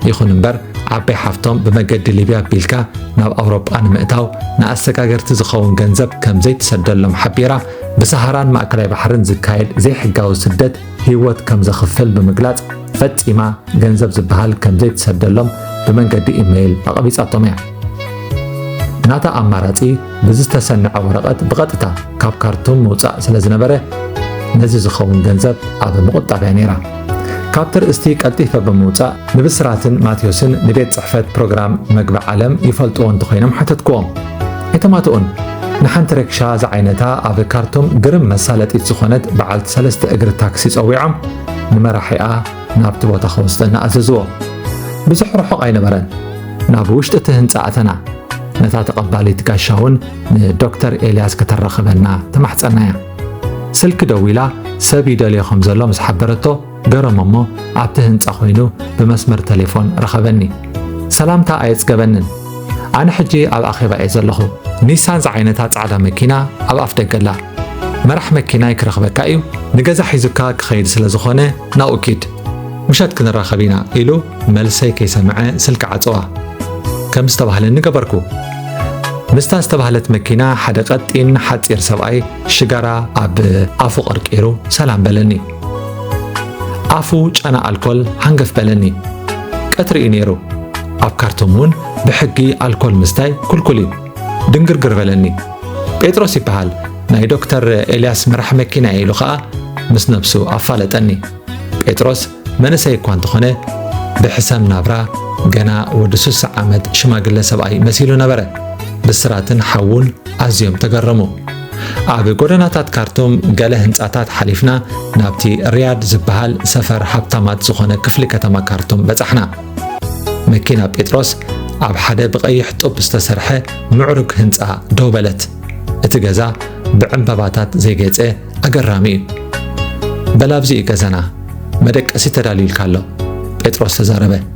ይኹን እምበር ዓባይ ሓፍቶም ብመገዲ ሊብያ ኣቢልካ ናብ ኣውሮጳ ንምእታው ንኣሰጋገርቲ ዝኸውን ገንዘብ ከም ዘይትሰደሎም ሓቢራ ብሰሃራን ማእከላይ ባሕርን ዝካየድ ዘይሕጋዊ ስደት ህይወት ከም ዘኽፍል ብምግላጽ ፈጺማ ገንዘብ ዝበሃል ከም ዘይትሰደሎም ብመንገዲ ኢመይል ኣቐቢጻቶም እያ። ናታ ኣማራጺ ብዝተሰንዐ ወረቐት ብቐጥታ ካብ ካርቱም ምውጻእ ስለ ዝነበረ ነዚ ዝኸውን ገንዘብ ኣብ ምቑጣብ እያ ነይራ ካብቲ ርእስቲ ቀልጢፈ ብምውጻእ ንብስራትን ማቴዎስን ንቤት ጽሕፈት ፕሮግራም መግቢ ዓለም ይፈልጥዎ እንተኾይኖም ሓተትክዎም ኣይተማትኡን ንሓንቲ ረክሻ ዝዓይነታ ኣብ ካርቱም ግርም መሳለጢት ዝኾነት በዓልቲ ሰለስተ እግሪ ታክሲ ጸዊዖም ንመራሒኣ ናብቲ ቦታ ክወስደና ኣዘዝዎ። ብዙሕ ርሑቕ ኣይነበረን። ናብ ውሽጢ እቲ ህንፃ ኣተና። ነታ ተቐባሊት ጋሻ እውን ንዶክተር ኤልያስ ከተራኽበና ተማሕፀናያ። ስልኪ ደዊላ ሰብ ይደልዮ ከም ዘሎ ምስ ሓበረቶ ገረሞ እሞ ኣብቲ ህንፃ ኮይኑ ብመስመር ተሌፎን ረኸበኒ። ሰላምታ ኣየፅገበንን። ኣነ ሕጂ ኣብ ኣኼባ እየ ዘለኹ። ኒሳን ዝዓይነታ ጻዕዳ መኪና ኣብ ኣፍደገ ኣላ። መራሕ መኪናይ ክረኽበካ እዩ፣ ንገዛ ሒዙካ ክኸይድ ስለ ዝኾነ ናብኡ ኪድ። ምሸት ክንራኸብ ኢና ኢሉ መልሰይ ከይሰምዐ ስልኪ ዓጸዋ። ከም ዝተባህለኒ ገበርኩ። ምስታ ዝተባህለት መኪና ሓደ ቀጢን ሓጺር ሰብኣይ ሽጋራ ኣብ ኣፉ ቀርቂሩ ሰላም በለኒ። ኣፉ ጨና ኣልኮል ሃንገፍ በለኒ። ቀትሪ እዩ ነይሩ። ኣብ ካርቱም እውን ብሕጊ ኣልኮል ምስታይ ኩልኩል እዩ። ድንግርግር በለኒ። ጴጥሮስ ይበሃል ናይ ዶክተር ኤልያስ መራሕ መኪና ኢሉ ኸኣ ምስ ነብሱ ኣፋለጠኒ። ጴጥሮስ መንእሰይ እኳ እንተኾነ ብሕሰም ናብራ ገና ወዲ ስሳ ዓመት ሽማግለ ሰብኣይ መሲሉ ነበረ። ብስራትን ሓዉን ኣዝዮም ተገረሙ። ኣብ ጎደናታት ካርቱም ገለ ህንጻታት ሓሊፍና ናብቲ ሪያድ ዝበሃል ሰፈር ሃብታማት ዝኾነ ክፍሊ ከተማ ካርቱም በጻሕና። መኪና ጴጥሮስ ኣብ ሓደ ብቐይሕ ጡብ ዝተሰርሐ ምዕሩግ ህንጻ ደው በለት። እቲ ገዛ ብዕምበባታት ዘይጌጸ ኣገራሚ እዩ። በላብዚ እዩ ገዛና፣ መደቀሲ ተዳልዩልካ ኣሎ፣ ጴጥሮስ ተዛረበ።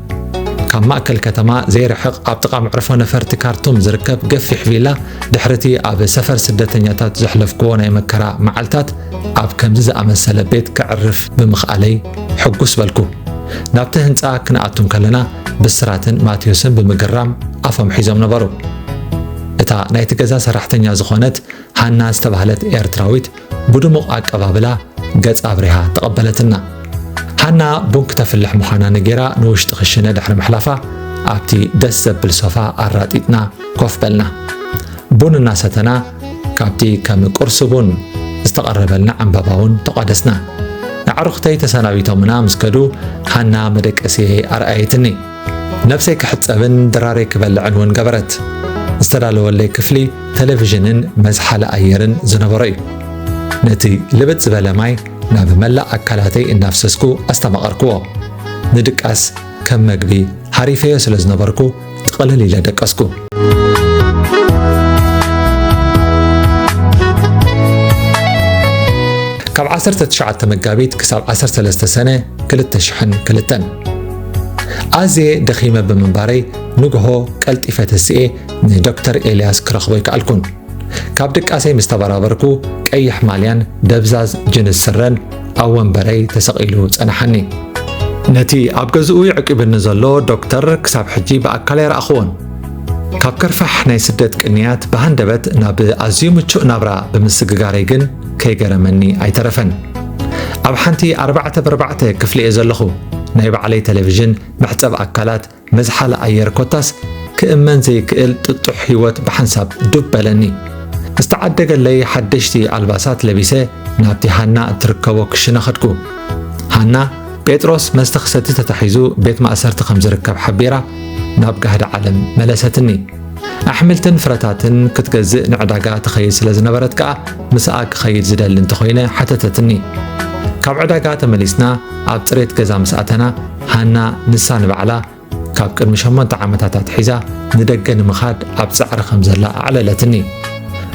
ካብ ማእከል ከተማ ዘይርሕቕ ኣብ ጥቓ መዕርፎ ነፈርቲ ካርቱም ዝርከብ ገፊሕ ቪላ ድሕሪ እቲ ኣብ ሰፈር ስደተኛታት ዘሕለፍክዎ ናይ መከራ መዓልታት ኣብ ከምዚ ዝኣመሰለ ቤት ከዕርፍ ብምኽኣለይ ሕጉስ በልኩ። ናብቲ ህንጻ ክንኣቱ ከለና ብስራትን ማቴዎስን ብምግራም ኣፎም ሒዞም ነበሩ። እታ ናይቲ ገዛ ሰራሕተኛ ዝኾነት ሃና ዝተባህለት ኤርትራዊት ብድሙቕ ኣቀባብላ ገጽ ኣብሪሃ ተቐበለትና። ሃና ቡን ክተፍልሕ ምዃና ነጌራ ንውሽጢ ክሽነ ድሕሪ ምሕላፋ ኣብቲ ደስ ዘብል ሶፋ ኣራጢጥና ኮፍ በልና። ቡን እናሰተና ካብቲ ከም ቁርሲ ቡን ዝተቐረበልና ዕምባባውን ተቋደስና። ኣዕሩኽተይ ተሰናቢቶምና ምስ ከዱ ሃና መደቀሲየይ ኣርኣየትኒ። ነብሰይ ክሕጸብን ድራረይ ክበልዕን እውን ገበረት። ዝተዳለወለይ ክፍሊ ቴሌቪዥንን መዝሓሊ ኣየርን ዝነበሮ እዩ። ነቲ ልብጥ ዝበለ ማይ ናብ መላእ ኣካላተይ እናፍሰስኩ ኣስተማቐርክዎ። ንድቃስ ከም መግቢ ሃሪፈዮ ስለ ዝነበርኩ ጥቕልል ኢለ ደቀስኩ። ካብ 19 መጋቢት ክሳብ 13 ሰነ 2002 ኣዝየ ደኺመ ብምንባረይ ንግሆ ቀልጢፈ ተሲኤ ንዶክተር ኤልያስ ክረኽቦ ኣይከኣልኩን። ካብ ድቃሰይ ምስ ተበራበርኩ ቀይሕ ማልያን ደብዛዝ ጅንስ ስረን ኣብ ወንበረይ ተሰቒሉ ጸናሓኒ። ነቲ ኣብ ገዝኡ ይዕቂብኒ ዘሎ ዶክተር ክሳብ ሕጂ ብኣካል ኣይረኣኽዎን። ካብ ከርፋሕ ናይ ስደት ቅንያት ብሃንደበት ናብ ኣዝዩ ምቹእ ናብራ ብምስግጋረይ ግን ከይገረመኒ ኣይተረፈን። ኣብ ሓንቲ ኣርባዕተ በርባዕተ ክፍሊ እየ ዘለኹ። ናይ ባዕለይ ተለቪዥን፣ መሕጸብ ኣካላት፣ መዝሓሊ ኣየር ኮታስ ክእመን ዘይክእል ጥጡሕ ህይወት ብሓንሳብ ዱብ በለኒ። ዝተዓደገለይ ሓደሽቲ ኣልባሳት ለቢሰ ናብቲ ሃና እትርከቦ ክሽነ ኸድኩ። ሃና ጴጥሮስ መስተ ክሰቲ ተታሒዙ ቤት ማእሰርቲ ከም ዝርከብ ሓቢራ ናብ ጋህዲ ዓለም መለሰትኒ። ኣሕምልትን ፍረታትን ክትገዝእ ንዕዳጋ ትኸይድ ስለ ዝነበረት ከኣ ምስኣ ክኸይድ ዝደሊ እንተኾይነ ሓተተትኒ። ካብ ዕዳጋ ተመሊስና ኣብ ጽሬት ገዛ ምስ ኣተና ሃና ንሳ ንባዕላ ካብ ቅድሚ ሸሞንተ ዓመታት ኣትሒዛ ንደገ ንምኻድ ኣብ ጻዕሪ ከም ዘላ ኣዕለለትኒ።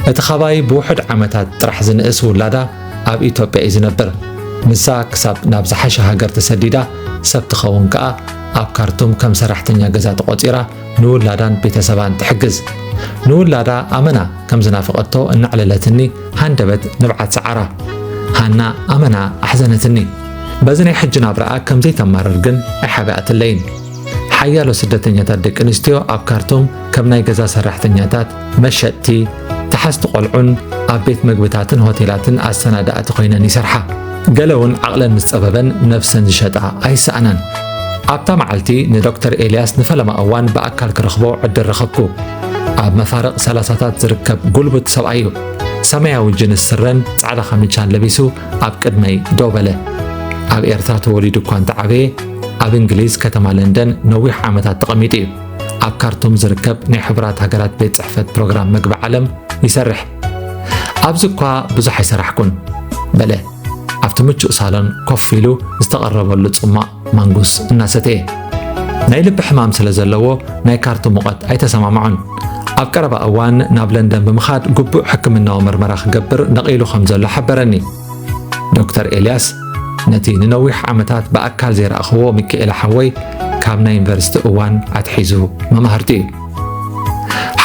እቲ ኻባይ ብውሑድ ዓመታት ጥራሕ ዝንእስ ውላዳ ኣብ ኢትዮጵያ እዩ ዝነብር። ንሳ ክሳብ ናብ ዝሓሸ ሃገር ተሰዲዳ ሰብ ትኸውን ከኣ ኣብ ካርቱም ከም ሰራሕተኛ ገዛ ተቖጺራ ንውላዳን ቤተሰባን ትሕግዝ። ንውላዳ ኣመና ከም ዝናፍቐቶ እናዕለለትኒ ሃንደበት ንብዓት ሰዓራ። ሃና ኣመና ኣሕዘነትኒ። በዚ ናይ ሕጂ ናብራኣ ከም ዘይተማርር ግን ኣይሓብኣትለይን። ሓያሎ ስደተኛታት ደቂ ኣንስትዮ ኣብ ካርቱም ከም ናይ ገዛ ሰራሕተኛታት መሸጥቲ፣ ተሓዝቲ ቆልዑን ኣብ ቤት መግብታትን ሆቴላትን ኣሰናዳእቲ ኮይነን ይሰርሓ። ገለ እውን ዓቕለን ምስ ጸበበን ነፍሰን ዝሸጣ ኣይሰኣናን። ኣብታ መዓልቲ ንዶክተር ኤልያስ ንፈለማ እዋን ብኣካል ክረኽቦ ዕድል ረኸብኩ። ኣብ መፋርቕ ሰላሳታት ዝርከብ ጉልቡት ሰብኣይ እዩ። ሰማያዊ ጅንስ ስረን ጻዕዳ ካሚቻን ለቢሱ ኣብ ቅድመይ ደው በለ። ኣብ ኤርትራ ተወሊዱ እኳ እንተዓበየ ኣብ እንግሊዝ ከተማ ለንደን ነዊሕ ዓመታት ተቐሚጡ እዩ። ኣብ ካርቱም ዝርከብ ናይ ሕቡራት ሃገራት ቤት ጽሕፈት ፕሮግራም መግቢ ዓለም ይሰርሕ። ኣብዚ እኳ ብዙሕ ኣይሰራሕኩን በለ ኣብቲ ምቹእ ሳሎን ኮፍ ኢሉ ዝተቐረበሉ ጽማቕ ማንጉስ እናሰተየ ናይ ልቢ ሕማም ስለ ዘለዎ ናይ ካርቱ ሙቐት ኣይተሰማምዖን ኣብ ቀረባ እዋን ናብ ለንደን ብምኻድ ግቡእ ሕክምናዊ ምርመራ ክገብር ነቒሉ ከም ዘሎ ሓበረኒ ዶክተር ኤልያስ ነቲ ንነዊሕ ዓመታት ብኣካል ዘይረኣኽዎ ሚኪኤለ ሓወይ ካብ ናይ ዩኒቨርሲቲ እዋን ኣትሒዙ መማህርቲ እዩ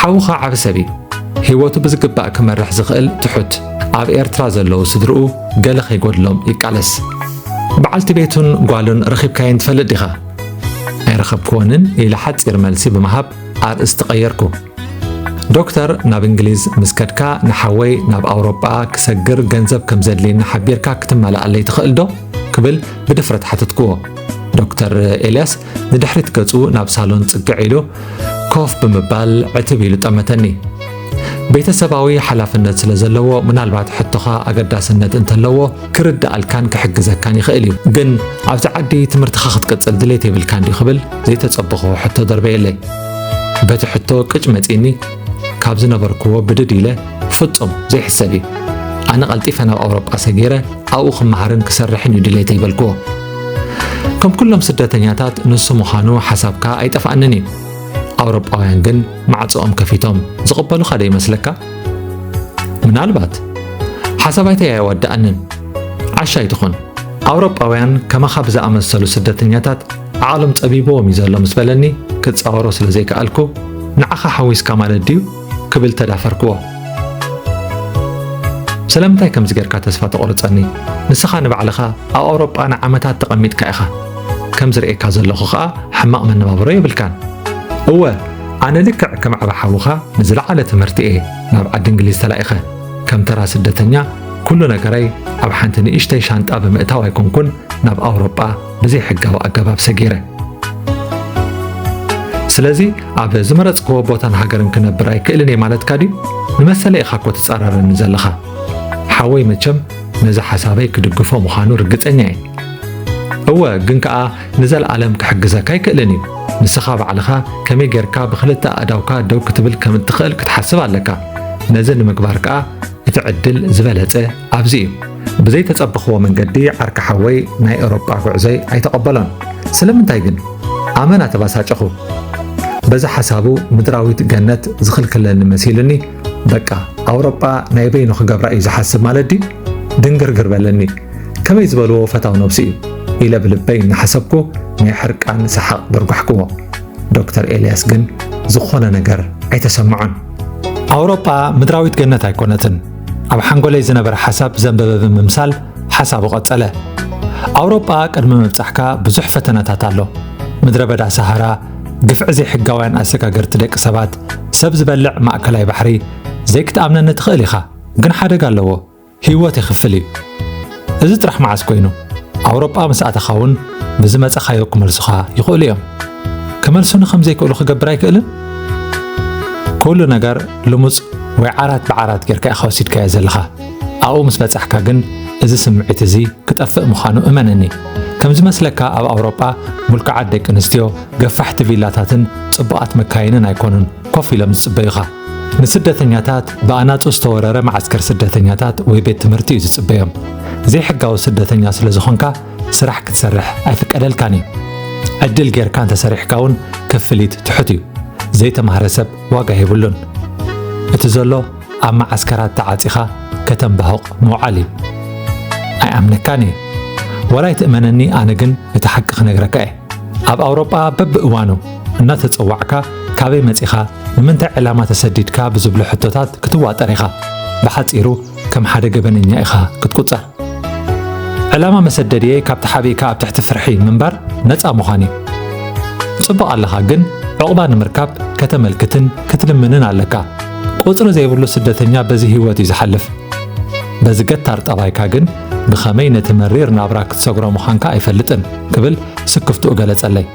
ሓውኻ ዓብ ሰብ እዩ ህይወቱ ብዝግባእ ክመርሕ ዝኽእል ትሑት ኣብ ኤርትራ ዘለዉ ስድርኡ ገለ ከይጎድሎም ይቃለስ በዓልቲ ቤቱን ጓሉን ረኺብካየን ትፈልጥ ዲኻ ኣይረኸብክወንን ኢለ ሓፂር መልሲ ብምሃብ ኣርእስቲ ቀየርኩ። ዶክተር ናብ እንግሊዝ ምስ ከድካ ንሓወይ ናብ ኣውሮጳ ክሰግር ገንዘብ ከም ዘድልየኒ ሓቢርካ ክትመላኣለይ ትኽእል ዶ? ክብል ብድፍረት ሓተትክዎ። ዶክተር ኤልያስ ንድሕሪት ገጹ ናብ ሳሎን ጽግዕ ኢሉ ኮፍ ብምባል ዕትብ ኢሉ ጠመተኒ። ቤተሰባዊ ሓላፍነት ስለ ዘለዎ ምናልባት ሕቶኻ ኣገዳስነት እንተለዎ ክርድኣልካን ክሕግዘካን ይኽእል እዩ። ግን ኣብዚ ዓዲ ትምህርትኻ ክትቅጽል ድሌት የብልካን ድዩ ክብል ዘይተጸበኹዎ ሕቶ ደርበየለይ። በቲ ሕቶ ቅጭ መጺኒ ካብ ዝነበርክዎ ብድድ ኢለ ፍጹም ዘይሕሰብ እዩ ኣነ ቀልጢፈ ናብ ኣውሮጳ ሰጊረ ኣብኡ ክመሃርን ክሰርሕን እዩ ድሌተይ በልክዎ ከም ኩሎም ስደተኛታት ንሱ ምዃኑ ሓሳብካ ኣይጠፍኣንን እዩ ኣውሮጳውያን ግን ማዕጾኦም ከፊቶም ዝቕበሉኻ ዶ ይመስለካ? ምናልባት ሓሳብ ኣይተይ ኣየዋድኣንን ዓሻ ኣይትኹን። ኣውሮጳውያን ከማኻ ብዝኣመሰሉ ስደተኛታት ዓቕሎም ጸቢብዎም እዩ ዘሎ ምስ በለኒ ክጻወሮ ስለ ዘይከኣልኩ ንዓኻ ሓዊስካ ማለት ድዩ ክብል ተዳፈርክዎ። ስለምንታይ ከምዚ ጌርካ ተስፋ ተቑርጸኒ? ንስኻ ንባዕልኻ ኣብ ኣውሮጳ ንዓመታት ተቐሚጥካ ኢኻ። ከም ዝርእየካ ዘለኹ ኸኣ ሕማቕ መነባብሮ የብልካን። እወ፣ ኣነ ልክዕ ከም ዓቢ ሓውኻ ንዝለዓለ ትምህርቲ እየ ናብ ዓዲ እንግሊዝ ተላኢኸ። ከም ተራ ስደተኛ ኩሉ ነገረይ ኣብ ሓንቲ ንእሽተይ ሻንጣ ብምእታው ኣይኮንኩን ናብ ኣውሮጳ ብዘይሕጋዊ ኣገባብ ሰጊረ። ስለዚ ኣብ ዝመረጽክዎ ቦታን ሃገርን ክነብር ኣይክእልን እየ ማለትካ ድዩ? ንመሰለ ኢኻ እኮ ትጻረረኒ ዘለኻ። ሓወይ መቸም ነዚ ሓሳበይ ክድግፎ ምዃኑ ርግጸኛ እየ። እወ ግን ከኣ ንዘለኣለም ክሕግዘካ ኣይክእልን እዩ። ንስኻ ባዕልኻ ከመይ ጌርካ ብኽልተ ኣእዳውካ ደው ክትብል ከም እትኽእል ክትሓስብ ኣለካ። ነዚ ንምግባር ከኣ እቲ ዕድል ዝበለጸ ኣብዚ እዩ ብዘይ ተጸበኽዎ መንገዲ ዓርኪ ሓወይ ናይ ኤሮጳ ጉዕዞይ ኣይተቐበሎን ስለምንታይ ግን ኣመና ተባሳጨኹ በዚ ሓሳቡ ምድራዊት ገነት ዝኽልክለኒ መሲልኒ በቃ ኣውሮጳ ናይ በይኑ ክገብራ እዩ ዝሓስብ ማለት ድዩ ድንግርግር በለኒ ከመይ ዝበልዎ ፈታው ነብሱ እዩ ኢለ ብልበይ እናሓሰብኩ ናይ ሕርቃን ሰሓቕ ደርጓሕክዎ ዶክተር ኤልያስ ግን ዝኾነ ነገር ኣይተሰምዖን ኣውሮጳ ምድራዊት ገነት ኣይኮነትን ኣብ ሓንጎለይ ዝነበረ ሓሳብ ዘንበበ ብምምሳል ሓሳቡ ቀጸለ። ኣውሮጳ ቅድሚ ምብጻሕካ ብዙሕ ፈተነታት ኣሎ። ምድረ በዳ ሰሃራ፣ ግፍዒ ዘይሕጋውያን ኣሰጋገርቲ ደቂ ሰባት፣ ሰብ ዝበልዕ ማእከላይ ባሕሪ፣ ዘይክትኣምነኒ ትኽእል ኢኻ፣ ግን ሓደጋ ኣለዎ፣ ህይወት የኽፍል እዩ። እዚ ጥራሕ መዓስ ኮይኑ ኣውሮጳ ምስ ኣተኻ እውን ብዝመጸኻዮ ክመልሱኻ ይኽእሉ እዮም። ክመልሱኒ ከም ዘይክእሉ ክገብር ኣይክእልን? ኩሉ ነገር ልሙጽ ወይ ዓራት ብዓራት ጌርካ ኢኻ ወሲድካዮ ዘለኻ። ኣብኡ ምስ በጻሕካ ግን እዚ ስምዒት እዚ ክጠፍእ ምዃኑ እመነኒ። ከም ዝመስለካ ኣብ ኣውሮጳ ምልኩዓት ደቂ ኣንስትዮ ገፋሕቲ ቪላታትን ጽቡቓት መካይንን ኣይኮኑን ኮፍ ኢሎም ዝጽበዩኻ። ንስደተኛታት ብኣናጹ ዝተወረረ መዓስከር ስደተኛታት ወይ ቤት ትምህርቲ እዩ ዝጽበዮም። ዘይሕጋዊ ስደተኛ ስለ ዝኾንካ ስራሕ ክትሰርሕ ኣይፍቀደልካን እዩ። ዕድል ጌርካ እንተሰሪሕካ እውን ክፍሊት ትሑት እዩ። ዘይተማህረ ሰብ ዋጋ የብሉን። እቲ ዘሎ ኣብ መዓስከራት ተዓጺኻ ከተንባሁቕ ምውዓል እዩ። ኣይኣምነካን እየ ዋላ ይትእመነኒ ኣነ ግን እቲ ሓቂ ክነግረካ እየ። ኣብ ኣውሮጳ በብእዋኑ እናተጸዋዕካ ካበይ መጺኻ ንምንታይ ዕላማ ተሰዲድካ ብዝብሉ ሕቶታት ክትዋጠር ኢኻ። ብሓጺሩ ከም ሓደ ገበነኛ ኢኻ ክትቁጸር። ዕላማ መሰደድየ ካብቲ ሓበይካ ኣብ ትሕቲ ፍርሒ ምንባር ነፃ ምዃን እዩ። ጽቡቕ ኣለኻ ግን ዕቑባ ንምርካብ ከተመልክትን ክትልምንን ኣለካ። ቁጽሪ ዘይብሉ ስደተኛ በዚ ህይወት እዩ ዝሓልፍ። በዚ ገታር ጠባይካ ግን ብኸመይ ነቲ መሪር ናብራ ክትሰግሮ ምዃንካ ኣይፈልጥን ክብል ስክፍትኡ ገለጸለይ።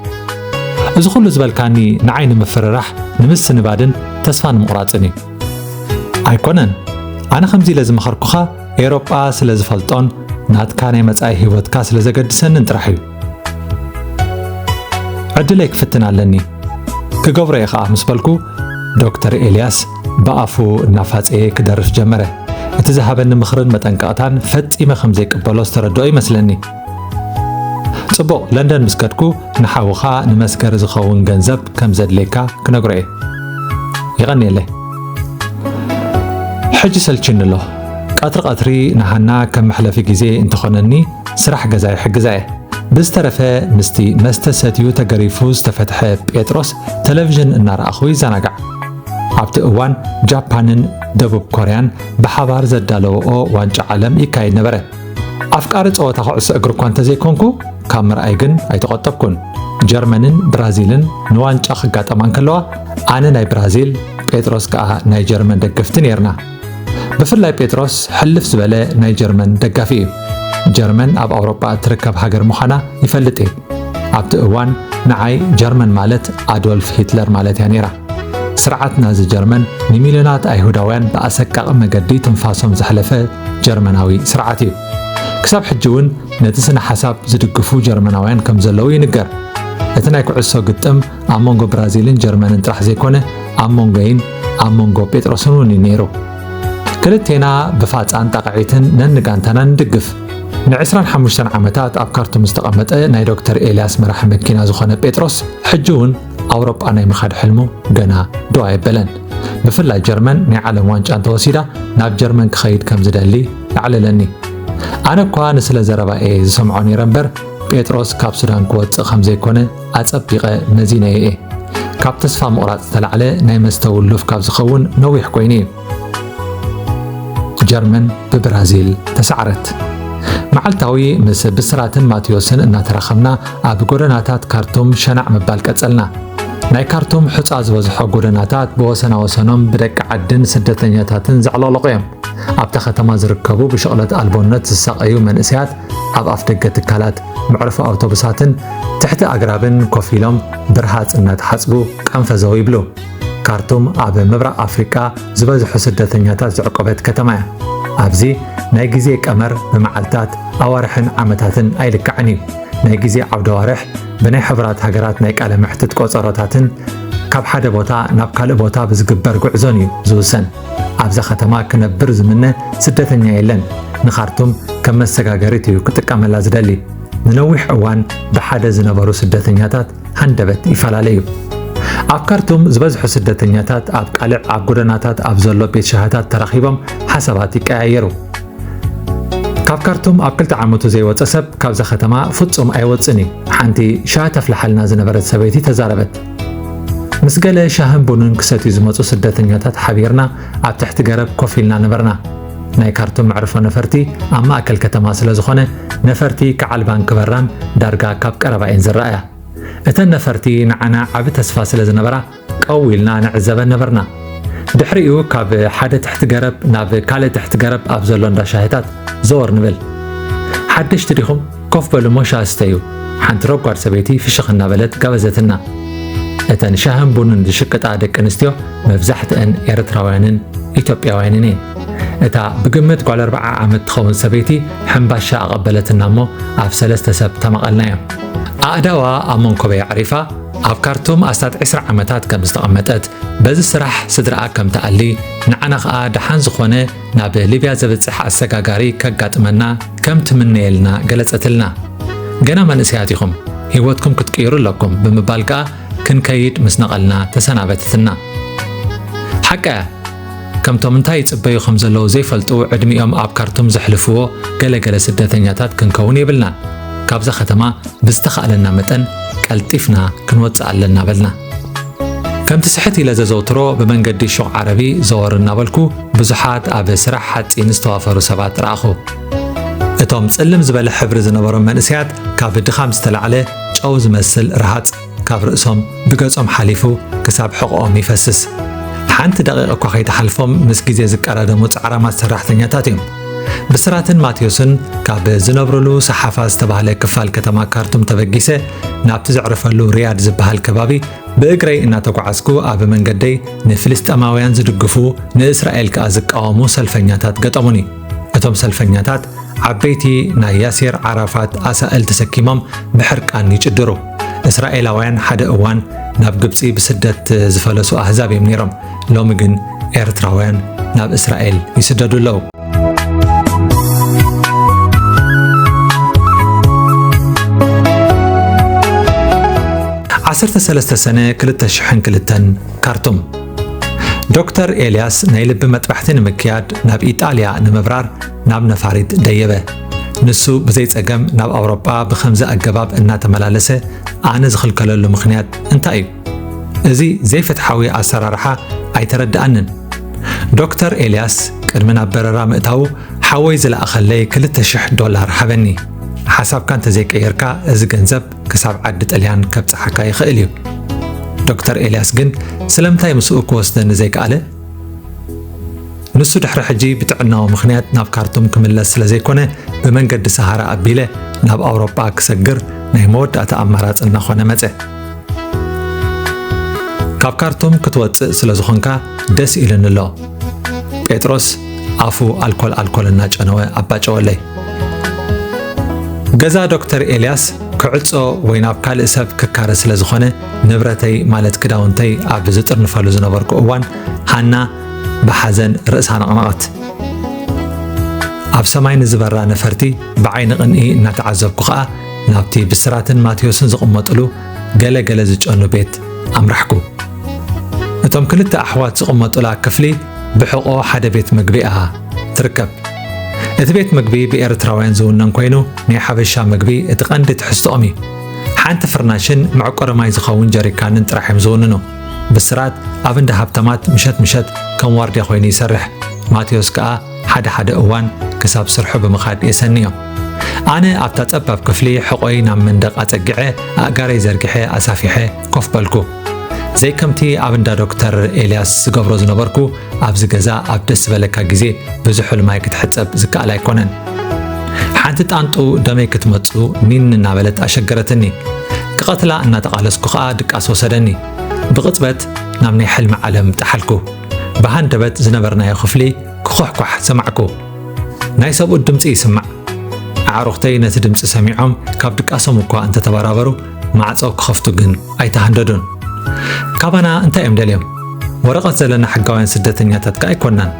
እዚ ኹሉ ዝበልካኒ ንዓይ ንምፍርራሕ ንምስንባድን ተስፋ ንምቑራጽን እዩ። ኣይኮነን ኣነ ከምዚ ኢለ ዝመኸርኩኻ ኤሮጳ ስለ ዝፈልጦን ናትካ ናይ መጻኢ ህይወትካ ስለ ዘገድሰንን ጥራሕ እዩ። ዕድለይ ክፍትን ኣለኒ ክገብሮ እየ ኸዓ ምስ በልኩ ዶክተር ኤልያስ ብኣፉ እናፋፀየ ክደርፍ ጀመረ። እቲ ዝሃበኒ ምኽርን መጠንቀቕታን ፈጺመ ከም ዘይቅበሎ ዝተረድኦ ይመስለኒ። ጽቡቕ ለንደን ምስ ከድኩ ንሓውኻ ንመስገሪ ዝኸውን ገንዘብ ከም ዘድልየካ ክነግሮ እየ። ይቐንየለይ። ሕጂ ሰልችኒ ኣሎ። ቀትሪ ቀትሪ ንሃና ከም መሕለፊ ግዜ እንተኾነኒ ስራሕ ገዛ ይሕግዛ እየ። ብዝተረፈ ምስቲ መስተ ሰትዩ ተገሪፉ ዝተፈትሐ ጴጥሮስ ተለቪዥን እናረኣኹ ይዘናጋዕ። ኣብቲ እዋን ጃፓንን ደቡብ ኮርያን ብሓባር ዘዳለወኦ ዋንጫ ዓለም ይካየድ ነበረ። ኣፍቃሪ ጸወታ ኩዕሶ እግሪ እኳ እንተዘይኮንኩ ካብ ምርኣይ ግን ኣይተቖጠብኩን። ጀርመንን ብራዚልን ንዋንጫ ክጋጠማ እንከለዋ ኣነ ናይ ብራዚል ጴጥሮስ ከኣ ናይ ጀርመን ደገፍቲ ነይርና። ብፍላይ ጴጥሮስ ሕልፍ ዝበለ ናይ ጀርመን ደጋፊ እዩ። ጀርመን ኣብ ኣውሮጳ እትርከብ ሃገር ምዃና ይፈልጥ እዩ። ኣብቲ እዋን ንዓይ ጀርመን ማለት ኣዶልፍ ሂትለር ማለት እያ ነይራ። ስርዓት ናዚ ጀርመን ንሚልዮናት ኣይሁዳውያን ብኣሰቃቂ መገዲ ትንፋሶም ዘሕለፈ ጀርመናዊ ስርዓት እዩ። ክሳብ ሕጂ እውን ነቲ ስነ ሓሳብ ዝድግፉ ጀርመናውያን ከም ዘለዉ ይንገር። እቲ ናይ ኩዕሶ ግጥም ኣብ መንጎ ብራዚልን ጀርመንን ጥራሕ ዘይኮነ ኣብ መንጎይን ኣብ መንጎ ጴጥሮስን እውን እዩ ነይሩ ክልቴና ብፋፃን ጣቕዒትን ነንጋንታና ንድግፍ ን25 ዓመታት ኣብ ካርቱም ዝተቐመጠ ናይ ዶክተር ኤልያስ መራሒ መኪና ዝኾነ ጴጥሮስ ሕጂ እውን ኣውሮጳ ናይ ምኻድ ሕልሙ ገና ዶ ኣየበለን ብፍላይ ጀርመን ናይ ዓለም ዋንጫ እንተወሲዳ ናብ ጀርመን ክኸይድ ከም ዝደሊ ኣዕለለኒ ኣነ እኳ ንስለ ዘረባ እየ ዝሰምዖ ነይረ እምበር ጴጥሮስ ካብ ሱዳን ክወፅእ ከም ዘይኮነ ኣጸቢቐ መዚነዮ እየ። ካብ ተስፋ ምቑራጽ ዝተላዕለ ናይ መስተ ውሉፍ ካብ ዝኸውን ነዊሕ ኮይኑ እዩ። ጀርመን ብብራዚል ተሳዕረት። መዓልታዊ ምስ ብስራትን ማቴዎስን እናተራኸብና ኣብ ጎደናታት ካርቱም ሸናዕ ምባል ቀጸልና። ናይ ካርቱም ሕፃ ዝበዝሖ ጎደናታት ብወሰና ወሰኖም ብደቂ ዓድን ስደተኛታትን ዘዕለቕለቑ እዮም። ኣብታ ከተማ ዝርከቡ ብሽቕለት ኣልቦነት ዝሳቐዩ መንእሰያት ኣብ ኣፍደገ ትካላት መዕርፎ ኣውቶቡሳትን ትሕቲ ኣግራብን ኮፍ ኢሎም ብርሃጽ እናተሓጽቡ ቀንፈዘው ይብሉ። ካርቱም ኣብ ምብራቕ ኣፍሪቃ ዝበዝሑ ስደተኛታት ዘዕቆበት ከተማ እያ። ኣብዚ ናይ ግዜ ቀመር ብመዓልታት ኣዋርሕን ዓመታትን ኣይልካዕን እዩ። ናይ ግዜ ዓውደ ኣዋርሕ ብናይ ሕቡራት ሃገራት ናይ ቃለ መሕትት ቆጸሮታትን ካብ ሓደ ቦታ ናብ ካልእ ቦታ ብዝግበር ጉዕዞን እዩ ዝውሰን። ኣብዛ ከተማ ክነብር ዝምነ ስደተኛ የለን። ንኻርቱም ከም መሰጋገሪት እዩ ክጥቀመላ ዝደሊ። ንነዊሕ እዋን ብሓደ ዝነበሩ ስደተኛታት ሃንደበት ይፈላለ እዩ። ኣብ ካርቱም ዝበዝሑ ስደተኛታት ኣብ ቃልዕ ኣብ ጎደናታት ኣብ ዘሎ ቤት ሻህታት ተራኺቦም ሓሳባት ይቀያየሩ። ካብ ካርቱም ኣብ ክልተ ዓመቱ ዘይወፀ ሰብ ካብዛ ከተማ ፍጹም ኣይወፅን እዩ፣ ሓንቲ ሻሂ ተፍልሓልና ዝነበረት ሰበይቲ ተዛረበት። ምስ ገለ ሻህን ቡንን ክሰትዩ ዝመጹ ስደተኛታት ሓቢርና ኣብ ትሕቲ ገረብ ኮፍ ኢልና ነበርና። ናይ ካርቱም መዕርፎ ነፈርቲ ኣብ ማእከል ከተማ ስለ ዝኾነ ነፈርቲ ክዓልባን ክበራን ዳርጋ ካብ ቀረባ እየን ዝረኣያ። እተን ነፈርቲ ንዓና ዓቢ ተስፋ ስለ ዝነበራ ቀው ኢልና ንዕዘበን ነበርና። ድሕሪኡ ካብ ሓደ ትሕቲ ገረብ ናብ ካልእ ትሕቲ ገረብ ኣብ ዘሎ እንዳ ሻሂታት ዘወር ንብል። ሓደሽቲ ዲኹም? ኮፍ በሉ እሞ ሻሂ ስተዩ፣ ሓንቲ ረጓድ ሰበይቲ ፍሽኽ እናበለት ጋበዘትና። እተን ሻህን ቡንን ዝሽቅጣ ደቂ ኣንስትዮ መብዛሕትአን ኤርትራውያንን ኢትዮጵያውያንን እየን። እታ ብግምት ጓል ኣርብዓ ዓመት ትኸውን ሰበይቲ ሕምባሻ ኣቐበለትና እሞ ኣብ ሰለስተ ሰብ ተመቐልናዮ ኣእዳዋ ኣብ መንኮበይ ኣዕሪፋ ኣብ ካርቱም ኣስታት 20 ዓመታት ከም ዝተቐመጠት በዚ ስራሕ ስድራኣ ከም ትኣሊ ንዓና ኸኣ ደሓን ዝኾነ ናብ ሊብያ ዘብጽሕ ኣሰጋጋሪ ከጋጥመና ከም ትምነየልና ገለጸትልና። ገና መንእሰያት ኢኹም፣ ህይወትኩም ክትቅይሩ ኣለኩም ብምባል ከኣ ክንከይድ ምስ ነቐልና ተሰናበተትና። ሓቃ እያ፣ ከምቶም እንታይ ይጽበዩ ከም ዘለዉ ዘይፈልጡ ዕድሚኦም ኣብ ካርቱም ዘሕልፍዎ ገለገለ ስደተኛታት ክንከውን የብልናን። ካብዛ ከተማ ብዝተኻእለና መጠን ቀልጢፍና ክንወጽእ ኣለና በልና። ከምቲ ስሕት ኢለ ዘዘውትሮ ብመንገዲ ሹቕ ዓረቢ ዘወር እናበልኩ ብዙሓት ኣብ ስራሕ ሓጺን ዝተዋፈሩ ሰባት ረኣኹ። እቶም ጽልም ዝበለ ሕብሪ ዝነበሮም መንእሰያት ካብ ድኻም ዝተላዕለ ጨው ዝመስል ረሃጽ ካብ ርእሶም ብገጾም ሓሊፉ ክሳብ ሕቖኦም ይፈስስ። ሓንቲ ደቂቕ እኳ ከይተሓልፎም ምስ ግዜ ዝቀዳደሙ ጻዕራማት ሰራሕተኛታት እዮም። ብስራትን ማቴዎስን ካብ ዝነብርሉ ሰሓፋ ዝተባህለ ክፋል ከተማ ካርቱም ተበጊሰ ናብቲ ዘዕርፈሉ ሪያድ ዝበሃል ከባቢ ብእግረይ እናተጓዓዝኩ ኣብ መንገደይ ንፍልስጠማውያን ዝድግፉ ንእስራኤል ከኣ ዝቃወሙ ሰልፈኛታት ገጠሙኒ እቶም ሰልፈኛታት ዓበይቲ ናይ ያሴር ዓራፋት ኣሳእል ተሰኪሞም ብሕርቃን ይጭድሩ እስራኤላውያን ሓደ እዋን ናብ ግብፂ ብስደት ዝፈለሱ ኣህዛብ እዮም ነይሮም ሎሚ ግን ኤርትራውያን ናብ እስራኤል ይስደዱ ኣለዉ። ዓሰርተ ሰለስተ ሰነ ክልተ ሽሕን ክልተን ካርቱም ዶክተር ኤልያስ ናይ ልቢ መጥባሕቲ ንምክያድ ናብ ኢጣልያ ንምብራር ናብ ነፋሪት ደየበ። ንሱ ብዘይ ጸገም ናብ ኣውሮጳ ብከምዚ ኣገባብ እናተመላለሰ ኣነ ዝኽልከለሉ ምኽንያት እንታይ እዩ? እዚ ዘይፍትሓዊ ኣሰራርሓ ኣይተረድኣንን። ዶክተር ኤልያስ ቅድሚ ናብ በረራ ምእታዉ ሓወይ ዝለኣኸለይ ክልተ ሽሕ ዶላር ሃበኒ። ሓሳብካ እንተዘይቀየርካ እዚ ገንዘብ ክሳብ ዓዲ ጥልያን ከብጽሓካ ይኽእል እዩ። ዶክተር ኤልያስ ግን ስለምንታይ ምስኡ ክወስደኒ ዘይከኣለ? ንሱ ድሕሪ ሕጂ ብጥዕናዊ ምኽንያት ናብ ካርቱም ክምለስ ስለ ዘይኮነ ብመንገዲ ሰሃራ ኣቢለ ናብ ኣውሮጳ ክሰግር ናይ መወዳእታ ኣማራጺ እናኾነ መጸ። ካብ ካርቱም ክትወጽእ ስለ ዝኾንካ ደስ ኢሉኒ ኣሎ ጴጥሮስ ኣፉ ኣልኮል ኣልኮል እናጨነወ ኣባጨወለይ ገዛ ዶክተር ኤልያስ ክዕጾ ወይ ናብ ካልእ ሰብ ክካረ ስለ ዝኾነ ንብረተይ ማለት ክዳውንተይ ኣብ ዝጥርንፈሉ ዝነበርኩ እዋን ሃና ብሓዘን ርእሳ ነቕነቐት ኣብ ሰማይ ንዝበራ ነፈርቲ ብዓይኒ ቅንኢ እናተዓዘብኩ ኸኣ ናብቲ ብስራትን ማቴዎስን ዝቕመጥሉ ገለ ገለ ዝጨኑ ቤት ኣምራሕኩ። እቶም ክልተ ኣሕዋት ዝቕመጡላ ክፍሊ ብሕቖ ሓደ ቤት ምግቢ እያ ትርከብ። እቲ ቤት ምግቢ ብኤርትራውያን ዝውነን ኮይኑ ናይ ሓበሻ ምግቢ እቲ ቀንዲ ትሕዝትኦም እዩ። ሓንቲ ፍርናሽን መዕቆሪ ማይ ዝኸውን ጀሪካንን ጥራሕ እዮም ዝውንኑ። ብስራት ኣብ እንዳ ሃብታማት ምሸት ምሸት ከም ዋርድያ ኮይኑ ይሰርሕ። ማቴዎስ ከኣ ሓደ ሓደ እዋን ክሳብ ስርሑ ብምኻድ የሰንዮ። ኣነ ኣብታ ጸባብ ክፍሊ ሕቖይ ናብ መንደቕ ኣጸግዐ ኣእጋረይ ዘርጊሐ ኣሳፊሐ ኮፍ በልኩ። ዘይከምቲ ኣብ እንዳ ዶክተር ኤልያስ ዝገብሮ ዝነበርኩ ኣብዚ ገዛ ኣብ ደስ ዝበለካ ግዜ ብዝሑል ማይ ክትሕጸብ ዝከኣል ኣይኮነን። ሓንቲ ጣንጡ ደመይ ክትመጹ ኒን እናበለት ኣሸገረትኒ። ክቐትላ እናተቓለስኩ ከኣ ድቃስ ወሰደኒ። ብቕጽበት ናብ ናይ ሕልሚ ዓለም ጠሓልኩ። ብሃንደበት ዝነበርናዮ ክፍሊ ክዅሕኳሕ ሰማዕኩ። ናይ ሰብኡት ድምጺ ይስማዕ። ኣዕሩኽተይ ነቲ ድምጺ ሰሚዖም ካብ ድቃሶም እኳ እንተተበራበሩ ማዕጾ ክኸፍቱ ግን ኣይተሃንደዱን። ካባና እንታይ እዮም ደልዮም? ወረቐት ዘለና ሕጋውያን ስደተኛታት ከ ኣይኮናን።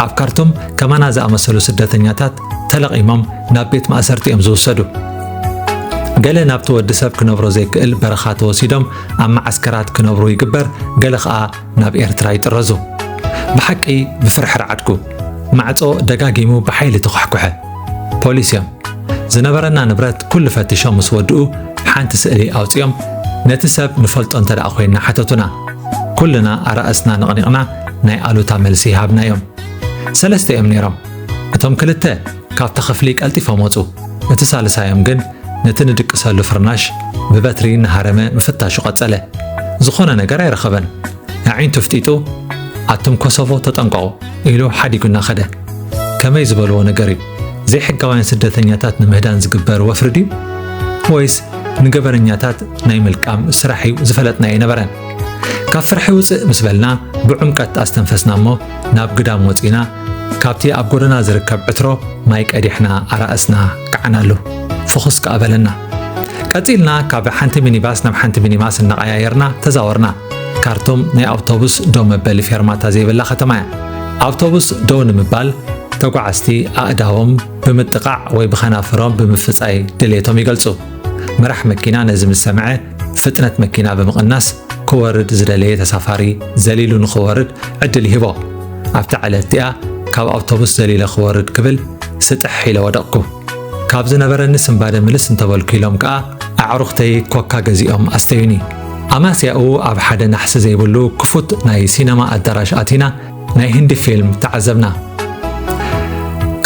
ኣብ ካርቱም ከማና ዝኣመሰሉ ስደተኛታት ተለቒሞም ናብ ቤት ማእሰርቲ እዮም ዝውሰዱ። ገለ ናብቲ ወዲ ሰብ ክነብሮ ዘይክእል በረኻ ተወሲዶም ኣብ መዓስከራት ክነብሩ ይግበር፣ ገለ ኸኣ ናብ ኤርትራ ይጥረዙ። ብሓቂ ብፍርሒ ረዓድኩ። ማዕጾ ደጋጊሙ ብሓይሊ ተኳሕኩሐ። ፖሊስ እዮም። ዝነበረና ንብረት ኩሉ ፈትሾም ምስ ወድኡ ሓንቲ ስእሊ ኣውጺኦም ነቲ ሰብ ንፈልጦ እንተ ደኣ ኮይንና ሓተቱና። ኩልና ኣራእስና ነቕኒቕና ናይ ኣሉታ መልሲ ሃብናዮም። ሰለስተ እዮም ነይሮም። እቶም ክልተ ካብታ ክፍሊ ቀልጢፎም ወጹ። እቲ ሳልሳዮም ግን ነቲ ንድቅሰሉ ፍርናሽ ብበትሪ እናሃረመ ምፍታሹ ቀጸለ። ዝኾነ ነገር ኣይረኸበን። ኣዒንቱ ኣፍጢጡ፣ ኣቱም ኮሶቮ ተጠንቀቑ! ኢሉ ሓዲጉና ከደ። ከመይ ዝበልዎ ነገር እዩ? ዘይሕጋውያን ስደተኛታት ንምህዳን ዝግበር ወፍሪ ድዩ? ወይስ ንገበነኛታት ናይ ምልቃም ስራሕ እዩ ዝፈለጥና ኣይነበረን። ካብ ፍርሒ ውጽእ ምስ በልና ብዑምቀት ኣስተንፈስና እሞ ናብ ግዳም ወጺእና ካብቲ ኣብ ጎደና ዝርከብ ዕትሮ ማይ ቀዲሕና ኣራእስና ከዓናሉ ፍኹስ ከኣ በለና። ቀጺልና ካብ ሓንቲ ሚኒባስ ናብ ሓንቲ ሚኒባስ እናቐያየርና ተዛወርና። ካርቱም ናይ ኣውቶቡስ ደው መበሊ ፌርማታ ዘይብላ ከተማ እያ። ኣውቶቡስ ደው ንምባል ተጓዓዝቲ ኣእዳዎም ብምጥቓዕ ወይ ብኸናፍሮም ብምፍጻይ ድሌቶም ይገልጹ። መራሕ መኪና ነዚ ምስ ሰምዐ ፍጥነት መኪና ብምቕናስ ክወርድ ዝደለየ ተሳፋሪ ዘሊሉ ንኽወርድ ዕድል ይህቦ። ኣብቲ ዕለት እቲኣ ካብ ኣውቶቡስ ዘሊለ ክወርድ ክብል ስጥሕ ኢለ ወደቕኩ። ካብ ዝነበረኒ ስንባደ ምልስ እንተበልኩ ኢሎም ከኣ ኣዕሩኽተይ ኮካ ገዚኦም ኣስተዩኒ። ኣማስያኡ ኣብ ሓደ ናሕሲ ዘይብሉ ክፉት ናይ ሲነማ ኣዳራሽ ኣቲና ናይ ህንዲ ፊልም ተዓዘብና።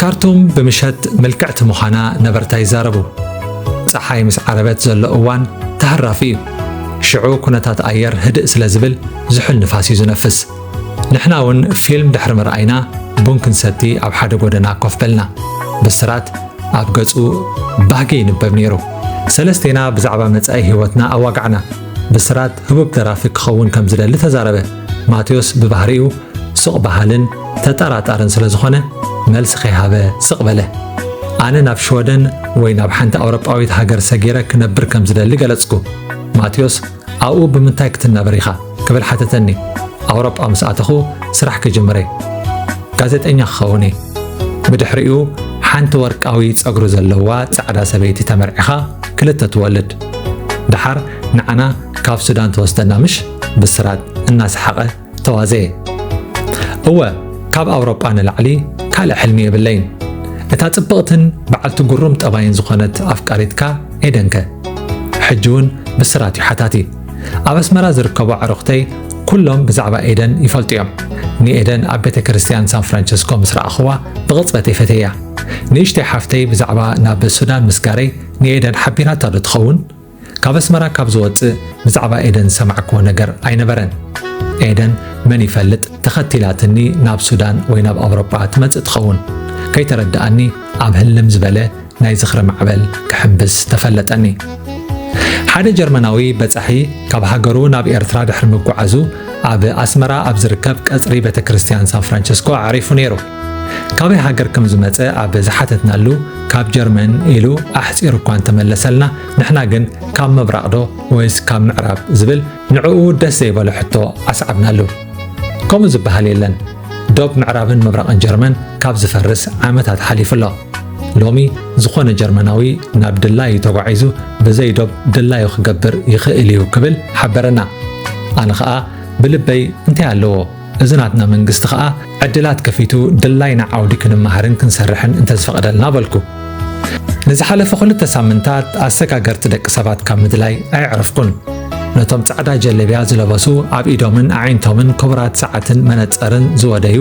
ካርቱም ብምሸት ምልክዕቲ ምዃና ነበርታ ይዛረቡ። ፀሓይ ምስ ዓረበት ዘሎ እዋን ተሃራፊ እዩ። ሽዑ ኩነታት ኣየር ህድእ ስለ ዝብል ዝሑል ንፋስ እዩ ዝነፍስ። ንሕና እውን ፊልም ድሕሪ ምርኣይና ቡን ክንሰቲ ኣብ ሓደ ጎደና ኮፍ በልና። ብስራት ኣብ ገጹ ባህጊ ይንበብ ነይሩ። ሰለስቴና ብዛዕባ መጻኢ ህይወትና ኣዋጋዕና። ብስራት ህቡብ ደራፊ ክኸውን ከም ዝደሊ ተዛረበ። ማቴዎስ ብባህሪኡ ስቕ በሃልን ተጠራጣርን ስለ ዝኾነ መልሲ ከይሃበ ስቕ በለ። ኣነ ናብ ሽወደን ወይ ናብ ሓንቲ ኣውሮጳዊት ሃገር ሰጊረ ክነብር ከም ዝደሊ ገለጽኩ። ማቴዎስ ኣብኡ ብምንታይ ክትናበር ኢኻ ክብል ሓተተኒ። ኣውሮጳ ምስ ኣተኹ ስራሕ ክጅምር እየ። ጋዜጠኛ ክኸውን እየ። ብድሕሪኡ ሓንቲ ወርቃዊ ጸጉሪ ዘለዋ ጻዕዳ ሰበይቲ ተመርዒኻ ክልተ ትወልድ። ደሓር ንዓና ካብ ሱዳን ትወስደና ምሽ? ብስራት እናሰሓቐ ተዋዘየ። እወ ካብ ኣውሮጳ ንላዕሊ ካልእ ሕልሚ የብለይን። እታ ጽብቕትን በዓልቲ ጉሩም ጠባይን ዝኾነት ኣፍቃሪትካ ኤደንከ? ሕጂ እውን ብስራት እዩ ሓታቲ። ኣብ ኣስመራ ዝርከቡ ኣዕሩኽተይ ኩሎም ብዛዕባ ኤደን ይፈልጡ እዮም። ንኤደን ኣብ ቤተ ክርስቲያን ሳን ፍራንቸስኮ ምስ ረኣኽዋ ብቕጽበተይ ፈተያ። ንእሽተይ ሓፍተይ ብዛዕባ ናብ ሱዳን ምስጋረይ ንኤደን ሓቢራታ ዶ ትኸውን? ካብ ኣስመራ ካብ ዝወጽእ ብዛዕባ ኤደን ዝሰማዕክዎ ነገር ኣይነበረን። ኤደን መን ይፈልጥ ተኸቲላትኒ ናብ ሱዳን ወይ ናብ ኣውሮጳ ትመጽእ ትኸውን። ከይተረድኣኒ ኣብ ህልም ዝበለ ናይ ዝኽሪ ማዕበል ክሕምብስ ተፈለጠኒ። ሓደ ጀርመናዊ በጻሒ ካብ ሃገሩ ናብ ኤርትራ ድሕሪ ምጉዓዙ ኣብ ኣስመራ ኣብ ዝርከብ ቀጽሪ ቤተ ክርስትያን ሳን ፍራንቸስኮ ኣዕሪፉ ነይሩ። ካበይ ሃገር ከም ዝመጸ ኣብ ዝሓተትናሉ ካብ ጀርመን ኢሉ ኣሕጺሩ እኳ እንተመለሰልና ንሕና ግን ካብ ምብራቕዶ ወይስ ካብ ምዕራብ ዝብል ንዕኡ ደስ ዘይበሎ ሕቶ ኣስዓብናሉ። ከምኡ ዝበሃል የለን ዶብ ምዕራብን ምብራቕን ጀርመን ካብ ዝፈርስ ዓመታት ሓሊፉ ኣሎ ሎሚ ዝኾነ ጀርመናዊ ናብ ድላዩ ተጓዒዙ ብዘይ ዶብ ድላዩ ክገብር ይኽእል እዩ ክብል ሓበረና ኣነ ኸኣ ብልበይ እንታይ ኣለዎ እዚ ናትና መንግስቲ ኸኣ ዕድላት ከፊቱ ድላይና ዓውዲ ክንመሃርን ክንሰርሕን እንተዝፈቕደልና በልኩ። ንዝሓለፈ ክልተ ሳምንታት ኣሰጋገርቲ ደቂ ሰባት ካብ ምድላይ ኣየዕረፍኩን። ነቶም ጻዕዳ ጀለብያ ዝለበሱ ኣብ ኢዶምን ኣዒንቶምን ክቡራት ሰዓትን መነጸርን ዝወደዩ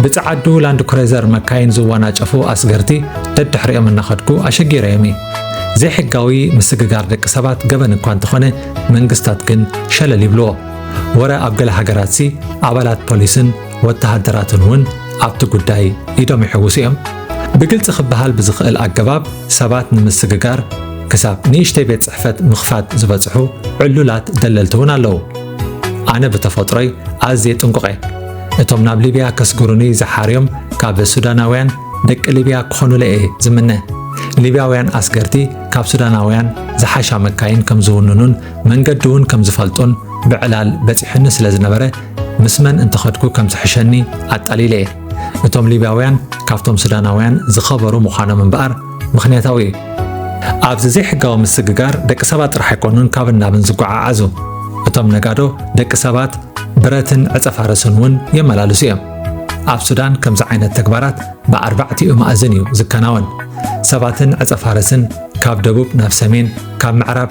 ብጸዓዱ ላንድ ክሬዘር መካይን ዝወናጨፉ ኣስገርቲ ደድሕሪኦም እናኸድኩ ኣሸጊረዮም እዩ። ዘይሕጋዊ ምስግጋር ደቂ ሰባት ገበን እኳ እንተኾነ መንግስታት ግን ሸለል ይብልዎ። ወረ ኣብ ገለ ሃገራትሲ ኣባላት ፖሊስን ወተሃደራትን እውን ኣብቲ ጉዳይ ኢዶም ይሕውሱ እዮም። ብግልፂ ክበሃል ብዝኽእል ኣገባብ ሰባት ንምስግጋር ክሳብ ንእሽተይ ቤት ፅሕፈት ምኽፋት ዝበፅሑ ዕሉላት ደለልቲ እውን ኣለዉ። ኣነ ብተፈጥሮይ ኣዝየ ጥንቁቕ እየ። እቶም ናብ ሊብያ ከስግሩኒ ዝሓርዮም ካብ ሱዳናውያን ደቂ ሊብያ ክኾኑለይ እየ ዝምነ። ሊብያውያን ኣስገርቲ ካብ ሱዳናውያን ዝሓሻ መካይን ከም ዝውንኑን መንገዲ እውን ከም ዝፈልጦን ብዕላል በጺሑኒ ስለ ዝነበረ ምስ መን እንተኸድኩ ከም ዝሕሸኒ ኣጣሊለ እየ። እቶም ሊብያውያን ካብቶም ሱዳናውያን ዝኸበሩ ምዃኖም እምበኣር ምኽንያታዊ እዩ። ኣብዚ ዘይሕጋዊ ምስግጋር ደቂ ሰባት ጥራሕ ኣይኮኑን ካብን ናብን ዝጓዓዓዙ። እቶም ነጋዶ ደቂ ሰባት ብረትን ዕጸፋርስን እውን የመላልሱ እዮም። ኣብ ሱዳን ከምዚ ዓይነት ተግባራት ብኣርባዕቲኡ ማእዝን እዩ ዝከናወን። ሰባትን ዕጸፋርስን ካብ ደቡብ ናብ ሰሜን ካብ ምዕራብ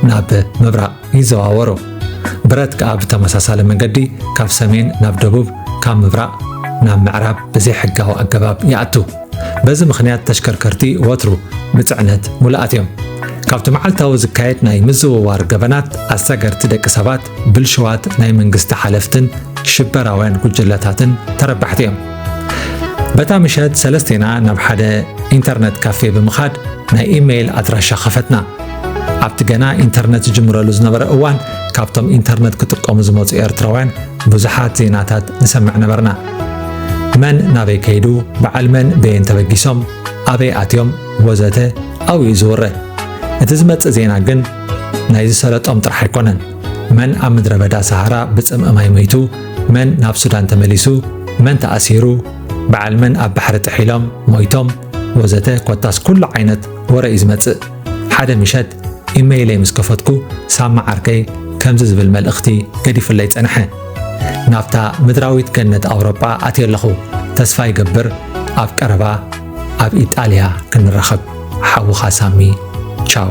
ናብ ምብራቕ ይዘዋወሩ። ብረት ከኣ ብተመሳሳሊ መገዲ ካብ ሰሜን ናብ ደቡብ ካብ ምብራቕ ናብ ምዕራብ ብዘይሕጋዊ ኣገባብ ይኣቱ። በዚ ምኽንያት ተሽከርከርቲ ወትሩ ብጽዕነት ሙሉኣት እዮም። ካብቲ መዓልታዊ ዝካየድ ናይ ምዝውዋር ገበናት ኣሰገርቲ ደቂ ሰባት፣ ብልሽዋት ናይ መንግስቲ ሓለፍትን ሽበራውያን ጉጅለታትን ተረባሕቲ እዮም። በታ ምሸት ሰለስቴና ናብ ሓደ ኢንተርነት ካፌ ብምኻድ ናይ ኢመይል ኣድራሻ ከፈትና። ኣብቲ ገና ኢንተርነት ዝጅምረሉ ዝነበረ እዋን ካብቶም ኢንተርነት ክጥቀሙ ዝመፁ ኤርትራውያን ብዙሓት ዜናታት ንሰምዕ ነበርና። መን ናበይ ከይዱ፣ በዓል መን በየን ተበጊሶም፣ ኣበይ ኣትዮም ወዘተ ኣብኡ እዩ ዝውረ። እቲ ዝመፅእ ዜና ግን ናይ ዝሰለጦም ጥራሕ ኣይኮነን። መን ኣብ ምድረ በዳ ሰሃራ ብፅምኢ ማይ መይቱ፣ መን ናብ ሱዳን ተመሊሱ፣ መን ተኣሲሩ፣ በዓል መን ኣብ ባሕሪ ጥሒሎም ሞይቶም ወዘተ ኮታስ ኩሉ ዓይነት ወረ እዩ ዝመጽእ። ሓደ ምሸት ኢመይለይ ምስ ከፈትኩ ሳማ ዓርከይ ከምዚ ዝብል መልእኽቲ ገዲፉለይ ጸንሐ። ናብታ ምድራዊት ገነት ኣውሮጳ ኣትየ ኣለኹ። ተስፋ ይገብር ኣብ ቀረባ ኣብ ኢጣልያ ክንራኸብ። ሓውኻ ሳሚ ቻው።